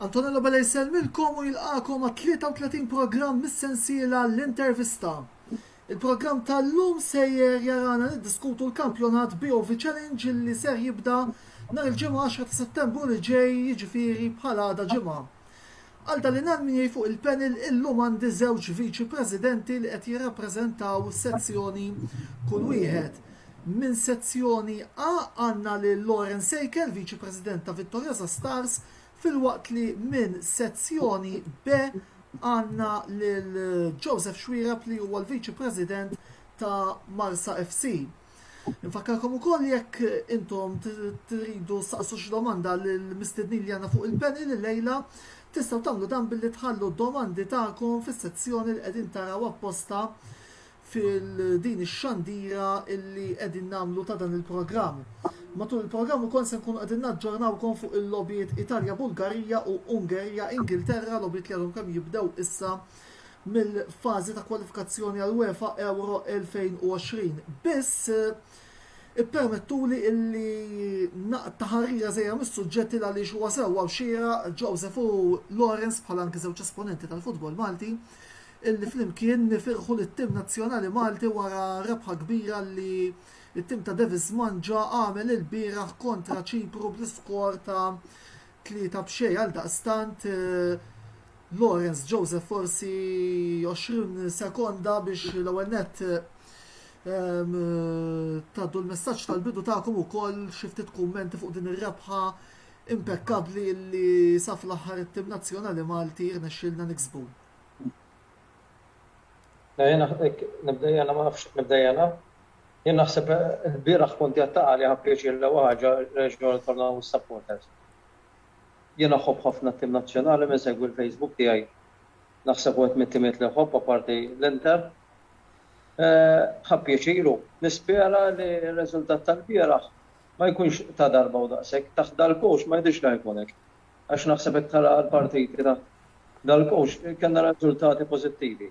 Antonello Bella jisselmilkom u jilqakom ma' 33 programm mis-sensiela l-intervista. Il-programm tal-lum sejjer jarana niddiskutu l-kampjonat BOV Challenge li ser jibda nhar il-ġimgħa 10 ta' Settembru li ġej jiġifieri bħal għada ġimgħa. Għal dan l-għan fuq il-panel illum għandi żewġ Viċi Presidenti li qed jirrappreżentaw sezzjoni kull wieħed. Minn sezzjoni A għandna lil Lauren Sejkel, Viċi President ta' Vittoriosa Stars, filwaqt li minn sezzjoni B għandna lil Joseph Xuereb li huwa l-Viċi President ta' Marsa FC. Infakkarkom ukoll li jekk intom tridu saqsu xi domanda lill-mistednin li għandna fuq il-panel illejla, tistgħu tagħmlu dan billi tħallu d-domandi tagħkom fis-sezzjoni li qegħdin taraw apposta fil-din ix-xandira illi qegħdin nagħmlu ta' dan il-programm. Matul il-programm ukoll se nkunu qegħdin naġġornawkom fuq il-logħbiet Italja-Bulgarija u Ungerija-Ingilterra, logħbiet li għadhom kemm jibdew issa mill-fażi ta' kwalifikazzjoni għall-UEFA Euro 2020. Biss, ippermettuli illi naqta' ħarira żgħira mis-suġġetti għaliex huwa sewwa u xieraq Joseph u Lawrence bħala anki żewġ esponenti tal-futbol Malti illi flimkien nifirħu lit-tim nazzjonali Malti wara rebħa kbira li t-tim ta' Davis Mangia għamel ilbieraħ kontra Ċipru bl-iskor ta' Tlieta b'xejn għaldaqstant Lawrence Joseph forsi 20 sekonda biex l-ewwel nett taddu l-messaġġ tal-bidu tagħkom ukoll xi ftit kummenti fuq din ir-rebħa impekkabbli li sa fl-aħħar it-tim nazzjonali Malti rnexxielna niksbu. Nibda jena? Nibda jena? Jien naħseb il-bieraħ kont qiegħed taqa' li ħa pjaċir l-ewwel ħaġa reġgħu rritornaw is-supporters. Jien iħobb ħafna t-tim Nazzjonali min segwi l-Facebook tiegħi naħseb wieħed mit-timiet li iħobb apparti l-Inter. Ħa pjaċir u nispera li r-riżultat tal-bieraħ ma jkunx ta' darba u daqshekk. Taħt dal-coach ma jidhirx li ħa jkun hekk. Għax naħseb jekk tara l-partiti taħt dal-coach kellna riżultati pożittivi.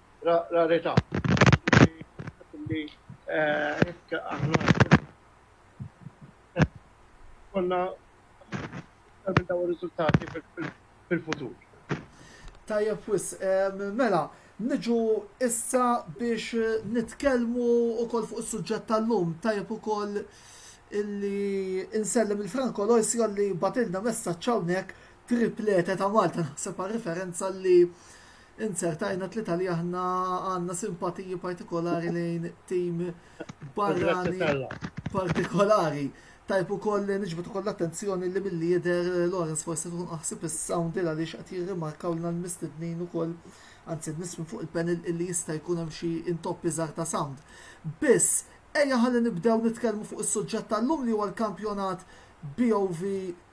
rarità. Li jekk aħna konna minn dawn ir-riżultati fil-futur. Tajjeb wis, mela, niġu issa biex nitkellmu wkoll fuq is-suġġett tal-lum. Tajjeb ukoll illi insellem il-Franco Loisio li batilna messaġġ hawnhekk triplete ta' Malta naħseb għal referenza li Insert għajnuna tlieta li aħna għandna simpatiji partikolari lejn tim barrani partikolari. Tajb ukoll li niġbet ukoll l-attenzjoni li milli jidher Lawrence forsi tkun aħsib is-sound il għaliex qed jirrimarkaw lna l-mistednin ukoll anzi n-nies minn fuq il-panel illi jista' jkun hemm xi intoppi żgħar ta' sound. Biss, ejja ħalli nibdew nitkellmu fuq is-suġġett tal-lum li huwa l-kampjonat BOV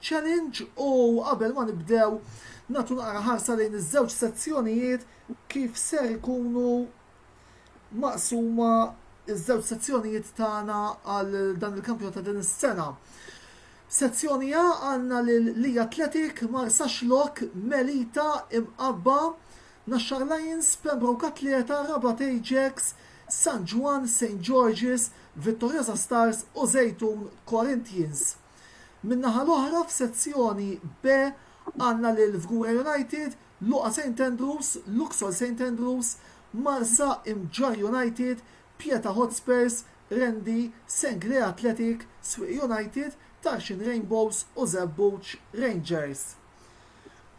Challenge u qabel ma nibdew nagħtu naqra ħarsa lejn iż-żewġ sezzjonijiet kif ser ikunu maqsuma iż-żewġ sezzjonijiet tagħna għal dan il-kampjonat ta' din is-sena. Sezzjoni A għandna lil Li Athletic, Marsax Lok, Melita, Imqabba, Naxxar Lions, Pembroke Atleta, Rabat Ajax, San Ġwann, Saint George's, Vittoriosa Stars u Żejtun, Corinthians. Min-naħa l-oħra f'Sezzjoni B għandna lil Fgura United, Luqa Saint Andrews, Luxol Saint Andrews, Marsa, Imġarr United, Pieta Hotspurs, Rendi, Senglea Athletic, Swieqi United, Tarxien Rainbows u Żebbuġ Rangers.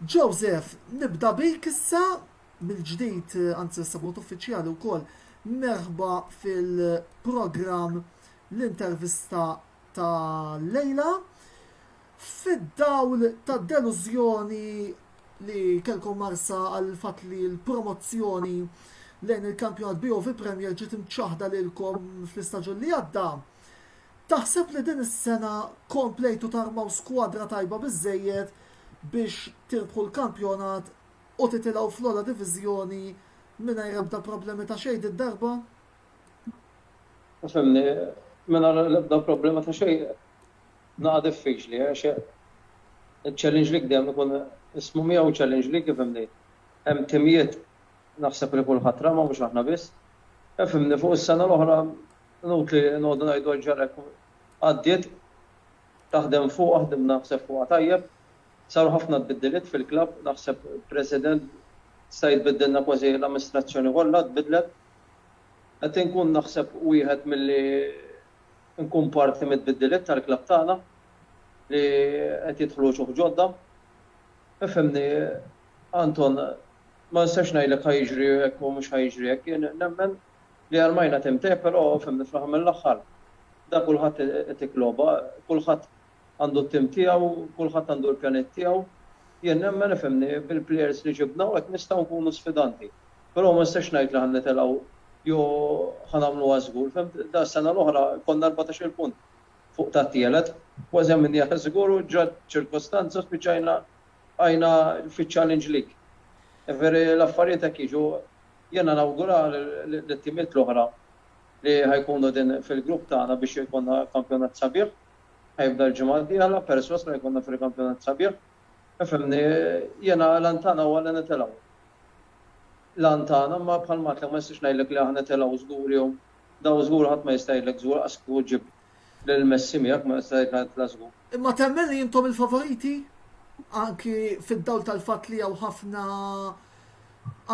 Joseph, nibda bik issa. mill-ġdid, anzi issa b'mod uffiċjali wkoll, merħba fil-programm l-intervista ta' lejla. Fid-dawl ta' delużjoni li kelkom marsa għal fatt li l-promozzjoni lejn il-kampjonat BOV Premier ġiet imċaħda lilkom fl-istaġun li għadda. Taħseb li din is-sena komplejtu tarmaw skwadra tajba biżejjed biex tirbħu l-kampjonat u titilgħu fl-ogħla diviżjoni mingħajr ebda problemi ta' xejn did-darba? Ifhimni, mingħajr l-ebda problema ta' xejn naqa' diffiċli għax iċ-challenge league dejjem ikun ismu miegħu challenge league ifhimni. Hemm timijiet naħseb li kulħadd rama mhux aħna biss. Ifhimni, fuq is-sena l-oħra inutli noqogħdu ngħidu għax ġara hekk għaddiet Taħdem fuqha, ħdimna naħseb fuqha tajjeb. Saru ħafna tbiddiliet fil-klabb, naħseb president sta jitbiddilna kważi l-amministrazzjoni kollha tbiddlet. Qed inkun naħseb wieħed milli nkun parti mit-tbiddiliet tal-klabb tagħna li qed jidħlu wċuħ ġodda. Ifhimni Anton, ma nistax ngħidlek ħa jiġri hekk u mhux ħa jiġri hekk, jien nemmen, Li armajna tim te pero fimni fl-aħħar mill-aħħar da kulħadd itik logħba, kulħadd għandu t-tim tiegħu, kulħadd għandu l-pjaniet tiegħu. Jien nemmen ifhimni bil-plejers li ġibna u hekk nistgħu nkunu sfidanti. Pero ma nistax ngħid li ħa nitilgħu jew ħa nagħmluha żgur, fhimt? Da s-sena l-oħra konna erbatax-il punt fuq tat-tielet, kważi għamilnieha żgur u ġrat ċirkostanza u spiċċajna bqajna fiċ-Challenge League. Jifieri l-affarijiet hekk jiġu Jiena nawgura lit-timiet l-oħra li ħa jkunu din fil-grupp tagħna biex ikollna kampjonat sabiħ. Ħa jibda l-ġimgħa d-dieħla, persważ li ħa jkollna fil-kampjonat sabiħ. Ifhimni, jiena l-għan tagħna huwa li nitilgħu. L-għan tagħna, imma bħalma għedtlek ma nistax ngħidlek li aħna nitilgħu żgur jew daw żgur ħadd ma jista' jgħidlek żgur, qas kieku ġġibhom. Lil Messi miegħek ma nista' ngħid ngħid la żgur. Imma temmen li intom il-favoriti? Anki fid-dawl tal-fatt li hawn ħafna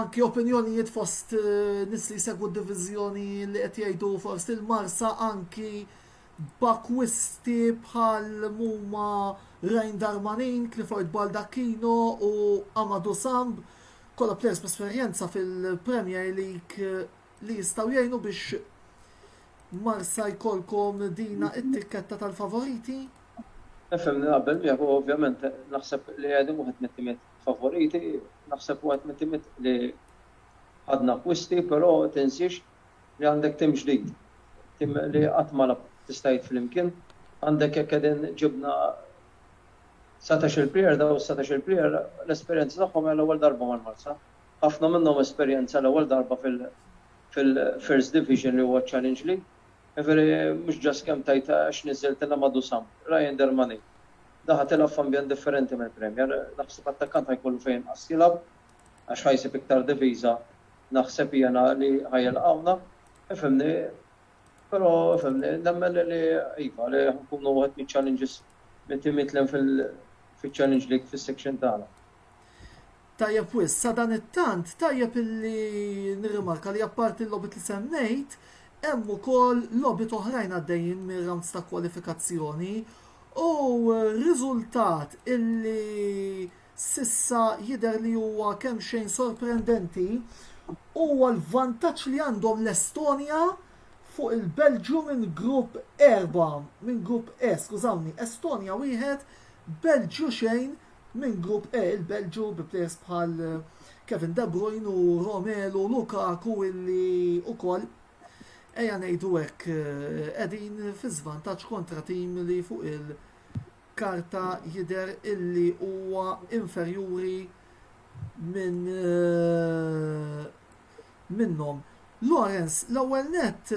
anki opinjonijiet fost eh, nis li jsegwu d-diviżjoni li qed jgħidu forsi l-Marsa anki b'akwisti bħal muma Ryan Darmanin, Clifford Baldacchino u Amadou Samb, kollha players b'esperjenza fil-Premier League eh, li jistgħu jgħinu biex Marsa jkollkom dina it-tikketta tal-favoriti? Nifhem, naqbel miegħek u ovvjament naħseb li Qegħdin waħed mit-timiet favoriti, naħseb waħed mit-timiet li ħadna akkwisti però tinsiex li għandek tim ġdid, tim li qatt ma lagħab tista' jgħid flimkien, għandek jekk qegħdin ġibna satax-il player, dawn is-satax-il player l-esperjenza tagħhom hija l-ewwel darba mal-Marsa, ħafna minnhom esperjenza l-ewwel darba fil-First Division li huwa Challenge League. Jiġifieri mhux just kemm tgħid għax niżżiltilha ma' Dusan. Ryan Dermani daħal tilgħab f'ambjent differenti mill-Premier. Naħseb attakkant ħa jkollu fejn inqas jilgħab għax ħa jsib iktar diviża naħseb jiena li ħa jilqgħuna. Ifhimni, però fhimni, nemmen li iva, li ħa nkunu wieħed miċ-challenges mit-timiet 'l hemm fiċ-Challenge League fis-section tagħna. Tajjeb wis, sadanittant tajjeb illi nirrimarka li apparti l-logħbiet li semmejt, hemm ukoll logħbiet oħrajn għaddejjin mir-rounds ta' kwalifikazzjoni u riżultat illi s'issa jidher li huwa kemmxejn sorprendenti huwa l-vantaġġ li għandhom l-Estonja fuq il-Belġju minn grupp erba', minn grupp E, skużawni, Estonja wieħed, Belġju xejn, Minn Grupp E il-Belġju bi players bħal Kevin De Bruyne u Romelu Lukaku illi ukoll ejja ngħidu hekk qegħdin fi żvantaġġ kontra tim li fuq il-karta jidher illi huwa inferjuri minn minnhom. Lawrence, l-ewwel nett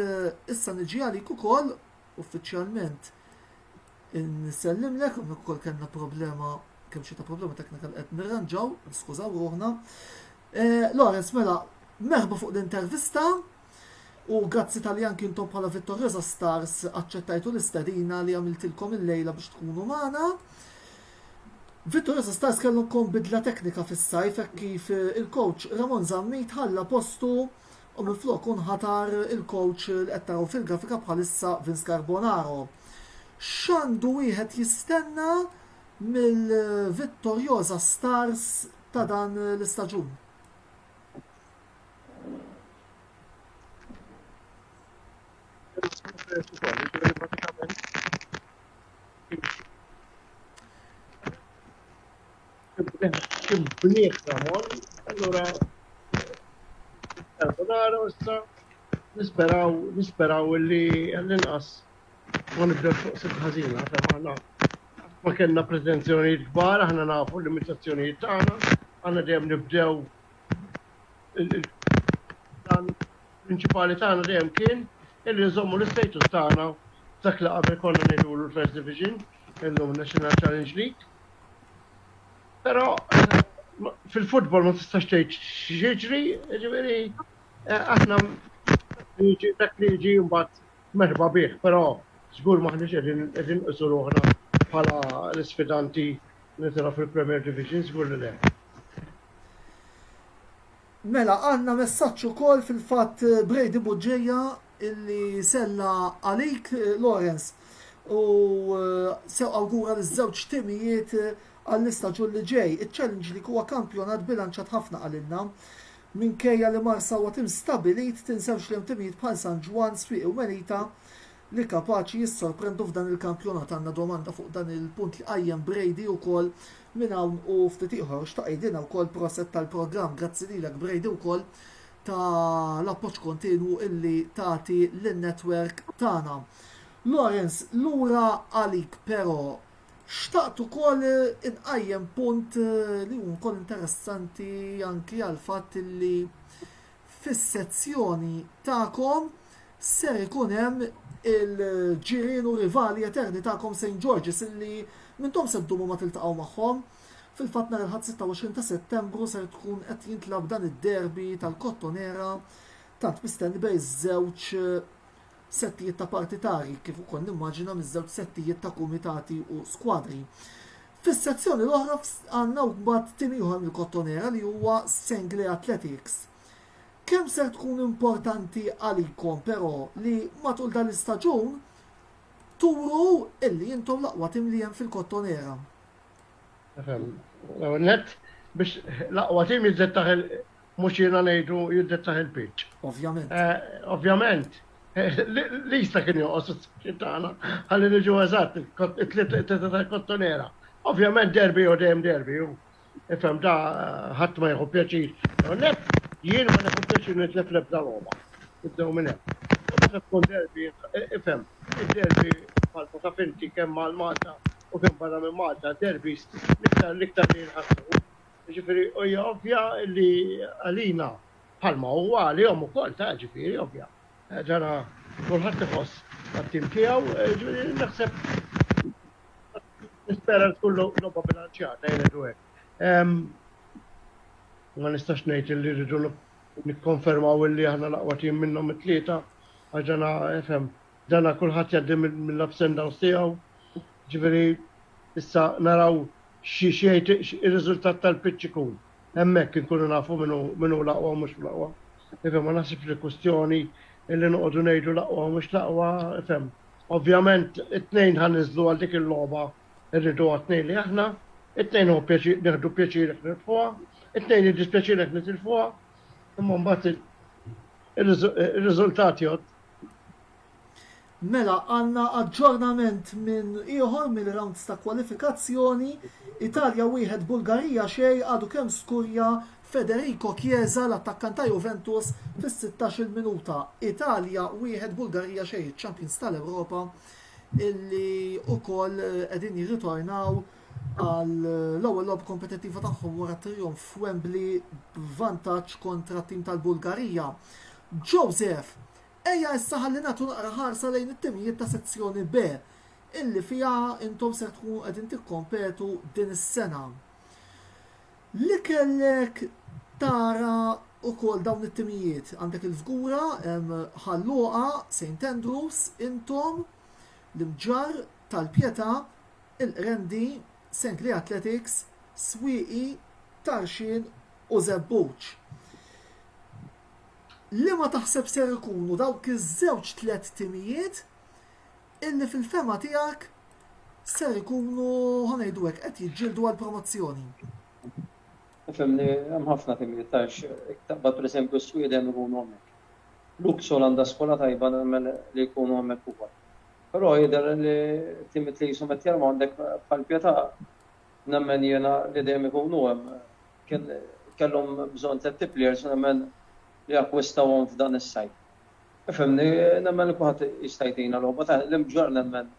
issa niġi għalik ukoll uffiċjalment Nsellimlek, hawnhekk ukoll kellna problema kemm xi ta' problema teknika qed nirranġaw, skużaw ruħna. Eh, Lawrence, mela, merħba fuq l-intervista u grazzi tal jan kintom bħala Vittoriosa Stars aċċettajtu l-istadina li għamiltilkom il-lejla biex tkunu magħna. Vittoriosa Stars kellhom bidla teknika fis-sajf kif eh, il-coach Ramon Zammit ħalla postu u minflok hu nħatar il-kowċ li qed taraw fil-grafika bħalissa Vince Carbonaro. X'għandu wieħed jistenna mill-vittorjoża Stars ta' dan l-istaġun? Kim bniet Ramon, allura Carbonara issa nisperaw nisperaw li l-inqas ma nibdew fuq sit ħażina fejn aħna ma kellna pretenzjonijiet kbar, aħna nafu l-limitazzjonijiet tagħna, aħna dejjem nibdew dan prinċipali tagħna dejjem kien illi nżommu l-istatus tagħna dak li qabel konna ngħidu l-First Division. Illum National Challenge League. Però fil-futbol ma tistax tgħid x'jiġri, ġifieri eh, aħna jiġi dak li jiġi mbagħad merħba bih, però żgur maħniex qegħdin qegħdin qisu ruħna bħala l-isfidanti li tara fil-Premier Division żgur li le. Mela għandna messaġġ ukoll fil-fatt Brady Bugeja illi sella għalik Lawrence u sew awgura liż-żewġ timijiet għall-istaġun li ġej. Iċ-Challenge League huwa kampjonat bilanċat ħafna qalilna. Minkejja li Marsa huwa tim stabbilit, tinsewx li hemm timijiet bħal San Ġwann, Swieqi u Melita li kapaċi jissorprendu f'dan il-kampjonat. Għandna domanda fuq dan il-punt li qajjem Brady wkoll minn hawn u ftit ieħor. Xtaq jgħidilna wkoll proset tal-programm. Grazzi lilek Brady wkoll ta' l-appoġġ kontinwu illi tagħti lin-netwerk tagħna. Lawrence, lura għalik però xtaqt ukoll inqajjem punt li hu wkoll interessanti anki għall-fatt illi fis-sezzjoni tagħkom ser ikun hemm il-ġirien u rivali eterni tagħkom St. George's illi m'intom se ddumu ma tiltaqgħu magħhom. Fil-fatt nhar il-Ħadd 26 ta' Settembru ser tkun qed jintlagħab dan id-derby tal-Kottonera tant mistenni bejn żewġ settijiet ta' partitari kif ukoll nimmaġina miż-żewġ settijiet ta' kumitati u skwadri. Fis-sezzjoni l-oħra għandna mbagħad tim ieħor mill-Kottonera li huwa Senglea Athletics. Kemm ser tkun importanti għalikom però li matul dan l-istaġun turu illi intom l-aqwa tim li hemm fil-Kottonera? Net, biex l-aqwa tim jiżdied taħ mhux jiena ngħidu jiddettah il-pitch. Ovvjament. Ovvjament. Lista kien joqgħos is-section tagħna ħalli niġu eżatt, it-tlieta tal-kottonera. Ovvjament derbi jew dejjem derbi hu. Ifhem da ħadd ma jieħu pjaċir. Net jien ma nieħu pjaċir nitlef l-ebda logħba. Nibdew minn hemm. U meta tkun derbi, ifhem, id-derbi bħalma taf inti kemm għal Malta u kemm barra minn Malta, derbis l-iktar l-iktar li jinħassu Ġifiri, hija ovvja li għalina bħalma huwa għalihom ukoll ta' ġifiri ovvja. Eh, ġara kulħadd iħoss għat-tim tiegħu, eh, ġifiri naħseb nispera tkun logħba bilanċjata jgħidu hekk. Ma nistax ngħid li rridu nikkonfermaw li aħna laqwa tim minnhom it-tlieta għax ġana FM Dana kulħadd jgħaddi mill-ups and downs tiegħu. Ġifieri issa naraw x'jgħid ir-riżultat tal-pitch ikun. Hemmhekk inkunu nafu min hu l-aqwa u mhux l-aqwa. Ifhem, ma naħsibx li kwistjoni li noqogħdu ngħidu l-aqwa u mhux l-aqwa, ifhem. Ovvjament it-tnejn ħa ninżlu għal dik il-logħba rridu għat-tnejn li aħna, it-tnejn hu pjaċir nieħdu pjaċir jekk nirbħuha, it-tnejn jiddispjaċina jekk nitilfuha, imma mbagħad ir-riżultat jgħodd. Mela għandna aġġornament minn ieħor mill-rounds ta' kwalifikazzjoni, Italja wieħed Bulgarija xejn għadu kemm skurja Federico Chiesa l-attakkant ta' Juventus fis-sittax-il minuta. Italja wieħed Bulgarija xejn iċ-champions tal-Ewropa illi wkoll qegħdin jirritornaw għall-ewwel logħba kompetittiva tagħhom wara t-trijonf f'Wembley b'vantaġġ kontra t-tim tal-Bulgarija. Joseph, ejja issa ħalli nagħtu naqra ħarsa lejn it-timijiet ta' sezzjoni B illi fiha intom ser tkunu qegħdin tikkompetu din is-sena. Li kellek tara ukoll dawn it-timijiet għandek il-Fgura, Ħalluqa, St. Andrews, intom, l-Imġar tal-Pjeta, il-Qrendi, Sengli Athletics, Swieqi, Tarxien u Żebbuġ. Liema taħseb ser ikunu dawk iż-żewġ tliet timijiet illi fil-fehma tiegħek ser ikunu, ħa ngħidu hekk, qed jiġġieldu għall-promozzjoni? Fehmni, hemm ħafna timijiet għax jekk taqbad pereżempju s-Swieqi dejjem ikunu hemmhekk. Luxol għandha skola tajba nemmen li jkunu hemmhekk ukoll. Però jidher li Timothy qishom qed jarmandek bħal Pietà. Nemmen jiena li dejjem ikunu hemm. Kien kellhom bżonn thirty players u nemmen li akkwistawhom f'dan is-sajf. Ifhimni, nemmen li kulħadd jista' jtina logħba ta' l-imġarr nemmen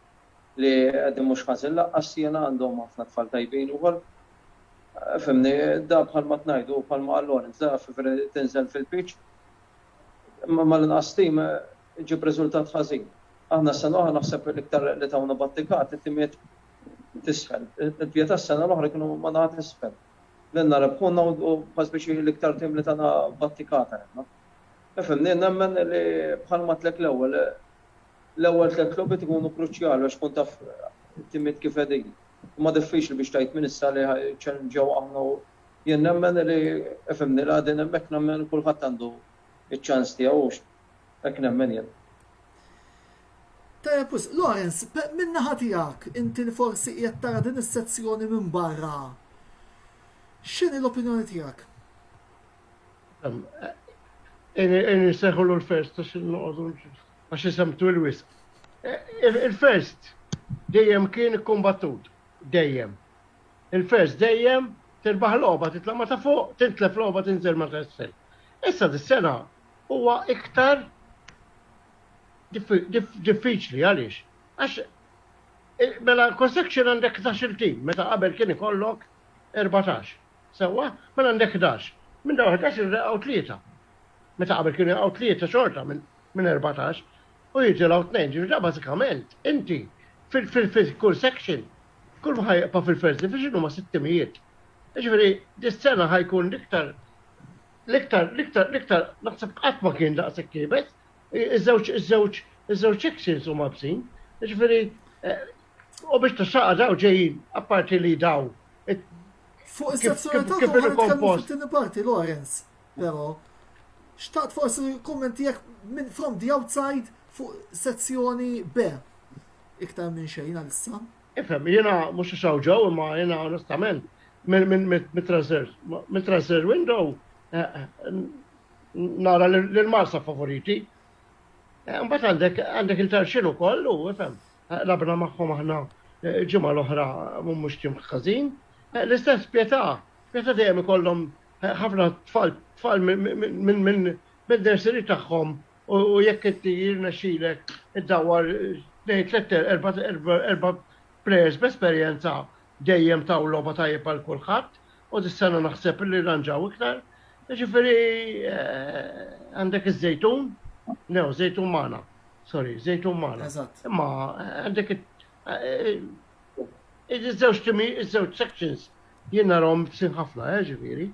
li qegħdin mhux ħażin laqqas jiena għandhom ħafna tfal tajbin ukoll. Ifhimni, da bħalma qed ngħidu u bħalma qal Lawrence, da f'February tinżel fil-pitch mal-inqas team. iġib riżultat ħażin. Aħna s-sena l-oħra naħseb l-iktar li tawna battikat it-timiet t'isfel. Il-Pietà s-sena l-oħra kienu ma' naħa t'isfel. Lilna rebħuna u kważi biex hi l-iktar tim li tana battikata lilna. Ifhimni, jien nemmen li bħalma għedtlek l-ewwel, l-ewwel tliet logħbiet ikunu kruċjali għax tkun taf it-timiet kif qegħdin. Imma diffiċli biex tgħid minn issa li ħa jiċċallenġjaw aħna u jien nemmen li, ifhimni, li għadin hemmhekk nemmen kulħadd għandu ċ-ċans tiegħu. Hekk nemmen jien. Tajjeb wisq. Lawrence, min-naħa tiegħek, inti li forsi qiegħed tara din is-sezzjoni minn barra, x'inhi l-opinjoni tiegħek? Inseħħulu l-first għax noqogħdu għax isem twil wisq. Il-first dejjem kien kumbattut, dejjem. Il-first dejjem tirbaħ logħba titla' ma ta' fuq, tintlef logħba tinżel ma ta' isfel. Issa dis-sena huwa iktar diffiċli għaliex? Għax mela kull section għandek 12 tim, meta qabel kien ikollok 14. Sewwa, mela għandek 11. Minn dawn 11 irreqgħu tlieta. Meta qabel kien irreqgħu tlieta xorta minn 14 u jitilgħu tnejn. Ġifieri bażikament inti fil-kull section kull ma ħajqpa' fil-first division huma sitt timijiet. Ġifieri dis-sena ħajkun iktar L-iktar, l-iktar, l-iktar, naħseb qatt ma kien daqshekk iebes. Iż-żewġ, iż-żewġ, iż-żewġ exes huma bsin. Jiġifieri, eh, u biex tixxaqa daw ġejjin, apparti li daw. Fuq is-sessjonalità kif inhu kompost. Tieni parti Lawrence, però. Xtaqt forsi kummenti jekk minn from the outside fuq sezzjoni B. Iktar minn xejn għalissa. Ifhem, jiena mhux għax hawn ġew imma jiena onestament mit-transfer window nara l-Marsa favoriti. Mbagħad għandek għandek il-Tarxin ukoll u ifhem labna magħhom aħna ġimgħa l-oħra mhux tim ħażin. L-istess Pietà, Pietà dejjem ikollhom ħafna tfal tfal minn minn minn nursery tagħhom u jekk inti jirnexxilek iddawwar tnejn tlett erba' plejers b'esperjenza dejjem taw logħba tajjeb għal kulħadd u dis-sena naħseb li rranġaw iktar. Jiġifieri għandek iż-żejtun, new żejtun magħna, sorry, żejtun magħna. Imma għandek iż-żewġ timi, iż-żewġ sections jien narhom sin ħafna, ġifieri.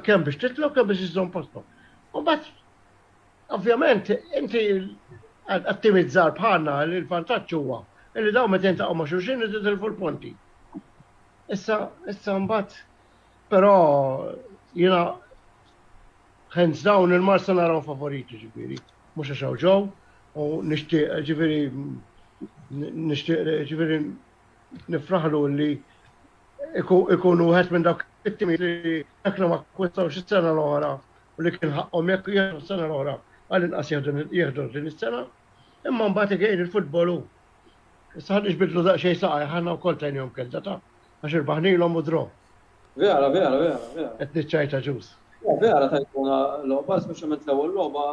Kemm biex titlu, kemm biex iżżomm postok. U bat Ovvjament, inti għat-tim iż-żgħar bħalna li l-vantaġġ huwa li dawn meta jintaqgħu ma' xulxin li titilfu l-punti. Issa, issa mbagħad, però jiena hands down il-Marsa naraw favoriti ġifieri, mhux għax hawn ġew u nixtieq ġifieri nixtieq ġifieri nifraħlu li ikunu wieħed minn dawk it-timi li jekk ma kwistawx is-sena l-oħra u li kien ħaqqhom hekk jieħdu s-sena l-oħra għall-inqas jieħdu din is-sena, imma mbagħad again il-futbol hu. Issa ħa niġbidlu daqsxejn saqajh aħna wkoll tajnihom kelda ta' għax irbaħnilhom u draw. Vera, vera, vera, vera. Qed niċċajta ġus. Vera tajtuna logħba, speċjalment l-ewwel logħba.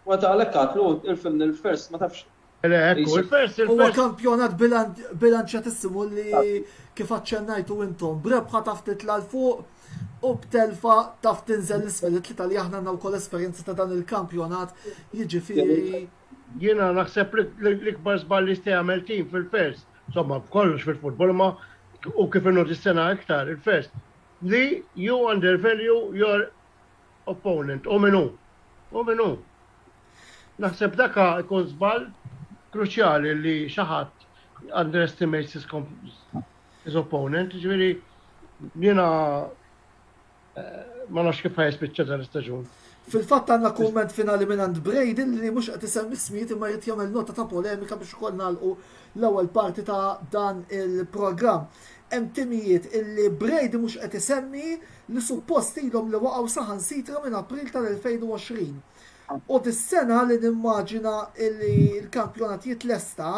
Meta għalhekk għatlu, irfimni l-first ma tafx Huwa kampjonat bilanċjatissimu li kif aċċennajtu intom, b'rebħa ta' ftit 'l fuq u b'telfa ta' ftit inżel 'l isfel, it-tlieta li aħna għandna wkoll esperjenza ta' dan il-kampjonat, jiġifieri. Jiena naħseb li l-ikbar żball li jista' jagħmel tim fil-First, insomma f'kollox fil-futbol imma u kif inhu dis-sena iktar il-First, li you undervalue your opponent, hu min hu. Hu min hu. Naħseb dak ikun żball kruċjali li xi ħadd underestimates his, his opponent, ġifieri jiena eh, ma nafx kif ħajspiċċa dan istaġun. Fil-fatt għandna kumment finali minn għand Brady li mhux qed isem ismijiet imma jrid jagħmel nota ta' polemika biex ukoll nagħlqu l-ewwel parti ta' dan il-programm. Hemm timijiet illi Brady mhux qed isemmi li suppost ilhom li waqgħu saħansitra minn April tal-2020. U dis-sena li nimmaġina illi l-kampjonat jitlesta,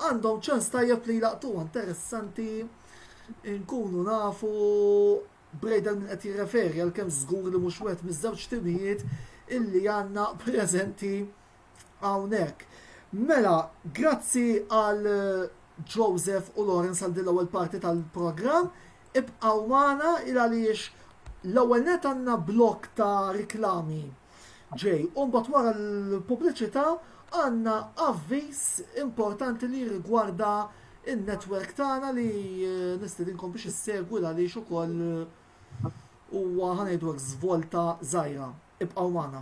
għandhom ċans tajjeb li jlaqqtuha. Interessanti nkunu nafu Brady għal min qed jirreferi għalkemm żgur li mhux wieħed miż-żewġ timijiet illi għandna preżenti hawnhekk. Mela, grazzi għal Joseph u Lawrence għal din l-ewwel parti tal-programm. Ibqgħu magħna il għaliex l-ewwel net għandna blok ta' riklami ġej. U mbagħad wara l-pubbliċità għandna avviż importanti li rigwarda in-netwerk tagħna li eh, nistedinkom biex issegwi l għaliex ukoll eh, huwa ħanejdu żvolta żgħira. Ibqgħu magħna.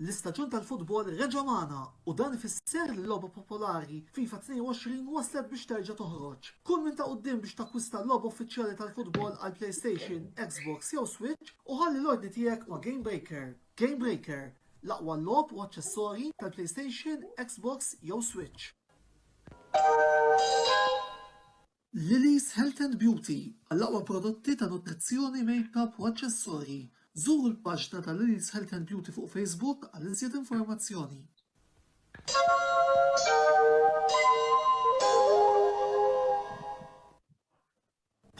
L-istaġun tal-futbol reġa' magħna u dan ifisser li l-logħba popolari FIFA 22 waslet biex terġa' toħroġ. Kull min ta' quddiem biex takkwista l-logħba uffiċjali tal-futbol għall-PlayStation, Xbox jew Switch u ħalli l-ordni tiegħek ma' GameBreaker. GameBreaker, l-aqwa logħob u aċċessorji tal-PlayStation, Xbox jew Switch. Lily's Health and Beauty, Għall-aqwa prodotti ta' nutrizzjoni, makeup u aċċessorji, żuru l-paġna ta' Lily's Health and Beauty fuq Facebook għal iżjed informazzjoni.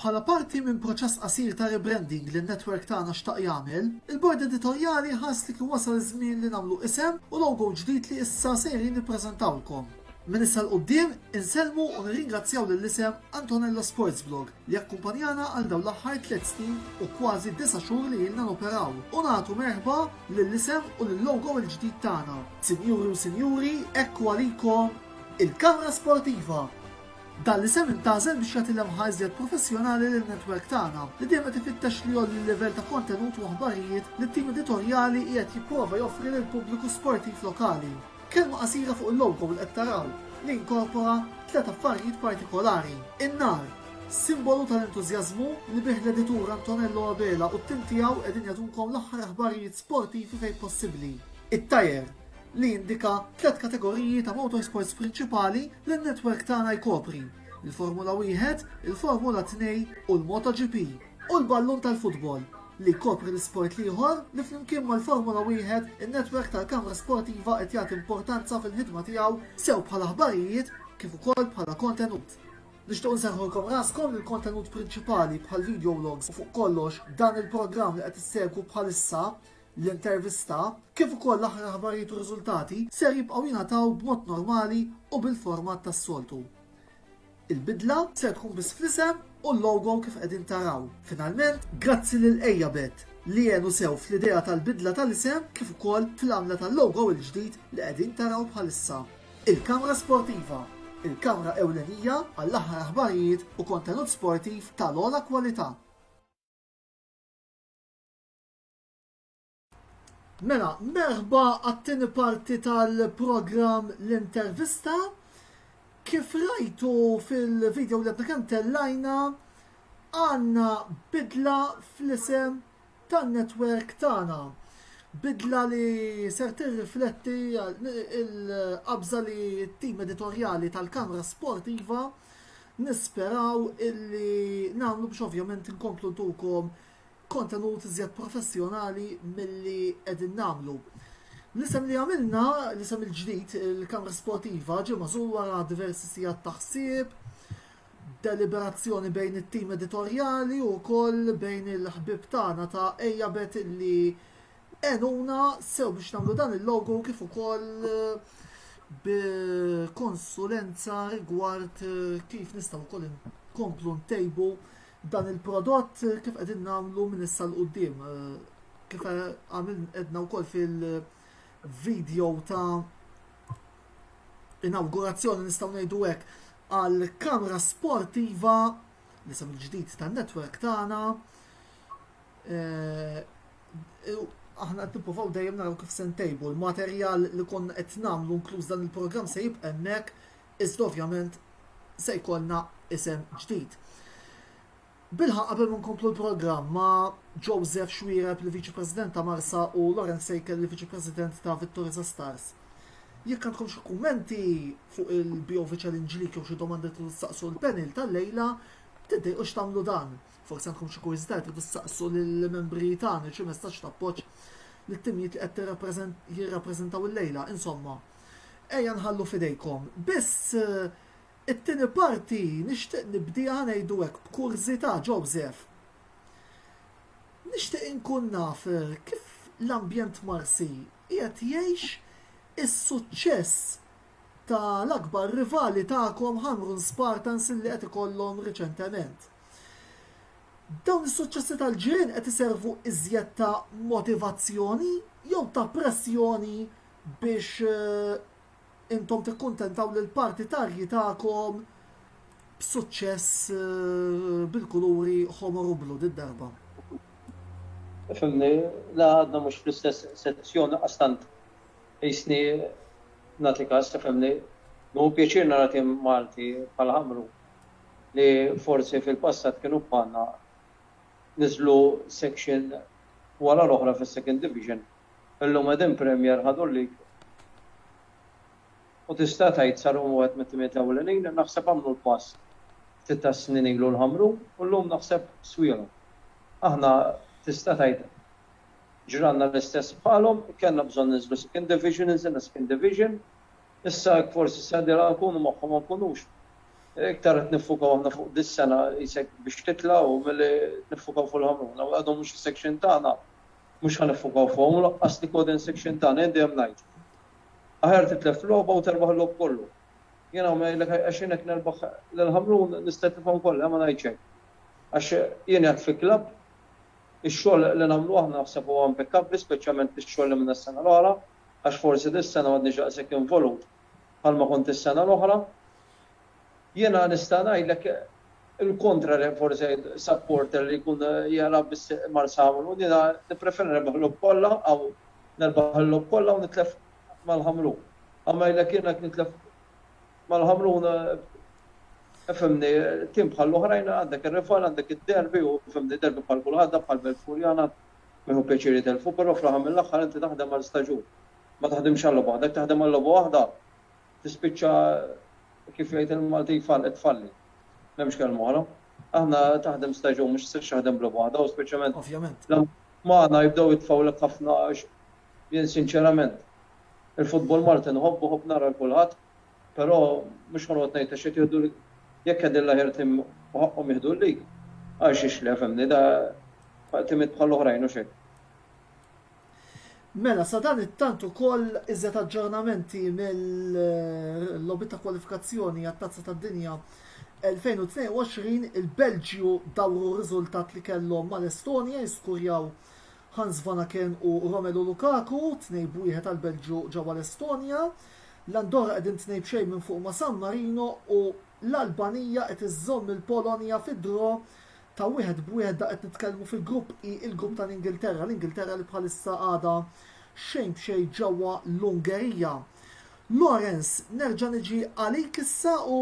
Bħala parti minn proċess qasir ta' rebranding li n-network tagħna xtaq jagħmel, il-Bord Editorjali ħass li kien wasal iż-żmien li nagħmlu isem u logo ġdid li issa sejrin nippreżentawlkom. Minn issa 'l quddiem, insellmu u nirringrazzjaw lill-isem Antonello Sportsblog li akkumpanjana għal dawn l-aħħar tliet snin u kważi disa' xhur li ilna noperaw, u nagħtu merħba lill-isem u lil-logo l-ġdid tagħna. Sinjuri u Sinjuri, ekku għalikom il-Kamra Sportiva! Dan l-isem intgħażel biex jagħti lemħa iżjed professjonali lin-netwerk tagħna, li dejjem qed ifittex li jgħolli l-livell ta' kontenut u aħbarijiet li t-tim editorjali qiegħed jipprova joffri lill-pubbliku sportiv lokali. Kelma qasira fuq il-logo li qed taraw li inkorpora tliet affarijiet partikolari, in-nar, simbolu tal-entużjażmu li bih l-editur Antonello Abela u t-tim tiegħu qegħdin jagħtunkom l-aħħar aħbarijiet sportivi fejn possibbli, it-tajer, li jindika tliet kategoriji ta' motorsports prinċipali li n-network tagħna jkopri, il-Formula Wieħed, il-Formula Tnej u l-MotoGP. u l-ballun tal-futbol, li jkopri l-isport l-ieħor li flimkien mal-Formula Wieħed in-netwerk tal-Kamra Sportiva qed jagħti importanza fil-ħidma tiegħu sew bħala aħbarijiet kif ukoll bħala kontenut. Nixtiequ nserrħulkom raskom li l-kontenut prinċipali bħall-videologs u fuq kollox dan il-programm li qed issegwu bħalissa l-intervista kif ukoll l-aħħar aħbarijiet u riżultati ser jibqgħu jingħataw b'mod normali u bil-format tas-soltu. Il-bidla ser tkun biss fl-isem u l-logo kif qegħdin taraw. Finalment, grazzi lil Eyabet li għenu sew fl-idea tal-bidla tal-isem kif ukoll fil-għamla tal-logo il-ġdid li qegħdin taraw bħalissa. Il-Kamra Sportiva, il-kamra ewlenija għall-aħħar aħbarijiet u kontenut sportiv tal-ogħla kwalità. Mela, merħba għat-tieni parti tal-programm l-intervista. Kif rajtu fil-video li kemm tellajna, għanna bidla fl-isem tan-netwerk tagħna. Bidla li ser tirrifletti il-qabża li t-tim editorjali tal-Kamra Sportiva nisperaw illi nagħmlu biex ovvjament inkomplu tukom kontenut iżjed professjonali milli qegħdin nagħmlu. L-isem li għamilna, l-isem il-ġdid, il-Kamra Sportiva, ġie mażul wara diversi sigħat ta' ħsieb, deliberazzjoni bejn it-tim editorjali u wkoll bejn il-ħbieb tagħna ta' Ejja Bet li għenuna sew biex nagħmlu dan il-logo kif ukoll bi konsulenza rigward kif nistgħu wkoll nkomplu ntejbu Dan il-prodott kif qegħdin nagħmlu minn issa l qudiem kif għamil edna wkoll fil-video ta' inaugurazzjoni nistgħu ngħidu hekk għal kamra sportiva li sam ġdid tan-netwerk tagħna. Eh, aħna qed nippruvaw dejjem naraw kif se ntejbu l-materjal li konna qed nagħmlu inkluż dan il-programm se jibqa' hemmhekk Iżda ovvjament se jkollna isem ġdid. Bilħa qabel ma nkomplu l-programm ma' Joseph Xwireb li Viċi President ta' Marsa u Lawrence Sejkel li Viċi President ta' Vittoriza Stars. Jekk għandkom xi kummenti fuq il-BOV Challenge League jew xi domandi li tridu tistaqsu l-panel tal-lejla, tiddejqux tagħmlu dan. Forsi għandkom xi kurżità li tridu tistaqsu lill-membri tagħna xi messaġġ ta' appoġġ lit-timijiet li qed jirrappreżentaw illejla, insomma. Ejja nħallu f'idejkom. Biss it-tieni parti nixtieq nibdieha ngħidu hekk b'kurżità, Joseph. Nixtieq inkun naf kif l-ambjent Marsi qiegħed jgħix is-suċċess ta' l-akbar rivali tagħkom Ħamrun Spartans li qed ikollhom riċentement. Dawn is-suċċessi tal-ġirien qed iservu iżjed ta' motivazzjoni jew ta' pressjoni biex intom tikkuntentaw lill-partitarji tagħkom b'suċċess bil-kuluri ħomor u blu did-darba. Ifhimni, la għadna mhux fl-istess sezzjon laqqas tant qisni nagħti kas, ifhimni. Nieħu pjaċir nara tim Malti bħal Ħamrun li forsi fil-passat kienu bħalna niżlu section wara l-oħra fis-Second Division Illum qegħdin Premier ħadu l-League u tista' tgħid sar huma wieħed mit-timijiet ewlenin, naħseb għamlu l-pass ftit tas-snin ilu l-Ħamrun u llum naħseb swielhom. Aħna tista' tgħid ġralna l-istess bħalhom, kellna bżonn ninżlu Second Division, inżilna Second Division, issa hekk forsi s-sena d-dieħla nkunu magħhom ma nkunux. Iktar qed niffukaw aħna fuq dis-sena qisek biex titla' u milli niffukaw fuq il-Ħamrun. Għadhom mhux is-section tagħna. Mhux ħa niffukaw fuqhom u laqqas li Coden Section tagħna jien dejjem ngħid, Aħjar titlef f'logħba u terbaħ il-logħob kollu. Jien hawn ngħidlek għaxin hekk nerbaħ lil Ħamrun nista' nitlifhom kollha ma ngħidx hekk. Għax jien qiegħed fi klabb, ix-xogħol li nagħmlu aħna naħseb huwa impeccabbli speċjalment bix-xogħol li għamilna s-sena l-oħra għax forsi dis-sena m'għadniex daqshekk involut bħalma kont is-sena l-oħra. Jiena nista' ngħidlek il-kontra li forsi supporter li jkun jara biss Marsamulo, jiena nippreferi nirbaħ il-logħob kollha aw nerbaħ il-logħob kollha u nitlef mal-Ħamrun. Aw ngħidlek jiena jekk nitlef mal-Ħamrun ifhimni tim bħal l-oħrajn għandek ir-rival, għandek id-derby u fimni derby bħal kulħadd bħal Belt Furjana ma jieħu pjaċir jitelfu, però fl-aħħar mill-aħħar inti taħdem għal staġun. Ma taħdimx għal logħba waħda, jekk taħdem għal logħba waħda tispiċċa kif jgħid il-Maltin fallet tfalli. M'hemmx kelma oħra. Aħna taħdem stage u mhux sirx taħdem bla waħda u speċjalment. Ovvjament. Magħna jibdew jitfawlek ħafna għax jien sinċerament il-futbol Malti nħobbu ħobb nara l-kulħadd, però mhux ħonqod ngħid għax qed jieħdu jekk qed il-laħir tim u ħaqqhom jieħdu l-lig. Għax ixlef hemm da timit bħal oħrajn u xejn. Mela, sadanittant ukoll iżjed aġġornamenti mill-logħbiet ta' kwalifikazzjoni għat-Tazza tad-Dinja 2022, il-Belġju dawru r-riżultat li kellhom mal-Estonja jiskurjaw Hans Vanaken u Romelu Lukaku, 2 b'wieħed għall-Belġju ġewwa l-Estonja. L-Andorra qegħdin tnejn b'xejn minn fuq ma' San Marino u l-Albanija qed iżżomm il-Polonja fi draw ta' wieħed b'wieħed da' qed nitkellmu fil-grupp I, il-grupp tal-Ingilterra, l-Ingilterra li bħalissa għadha xejn b'xejn ġewwa l-Ungerija. Lawrence, nerġa' niġi għalik issa u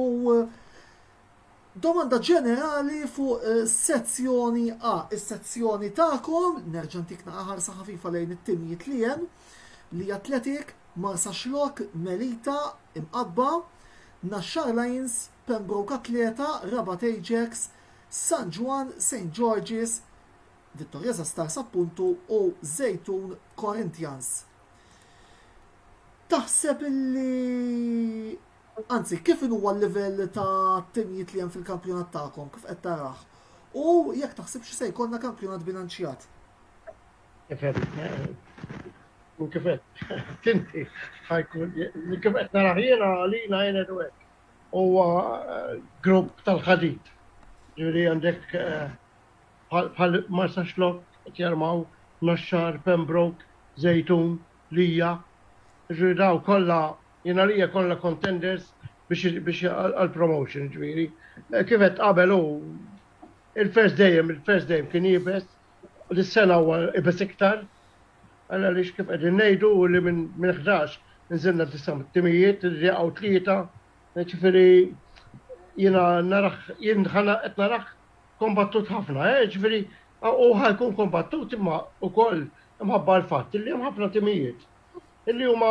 domanda ġenerali fuq eh, sezzjoni A, is-sezzjoni tagħkom, nerġa' ntik naqaħar ħafifa lejn it-timijiet li hemm, li atletik, Marsa Xlok, Melita, Imqabba, Naxxar Lions, Pembroke Athleta, Rabat Ajax, San Ġwann, Saint George's, Vittorieza Stars appuntu u Żejtun Corinthians. Taħseb illi anzi kif huwa l-livell ta' timijiet li hemm fil-kampjonat tagħkom kif qed tarah? U jekk taħsibx se jkollna kampjonat bilanċjat? Kif qed tinti ħajkun kif qed narah jiena għalina jien għedu hekk. huwa grupp tal-ħadid. Ġifieri għandek bħal Marsaxlokk qed jarmaw, Naxxar, Pembroke, Żejtun, Lija. Ġifieri dawn kollha jien għalija kollha contenders biex għall-promotion ġifieri. Kif għedt qabel hu il-first dejjem il-first dejjem kien iebes. Dis-sena huwa ibeż iktar, għal għaliex kif qegħdin ngħidu hu li minn minn ħdax inżilna disa' timijiet, irid jaqgħu tlieta, jiġifieri jiena narah jien ħa na qed narah kombattut ħafna, jiġifieri hu ħa jkun kombattut imma wkoll imħabba l-fatt illi hemm ħafna timijiet illi huma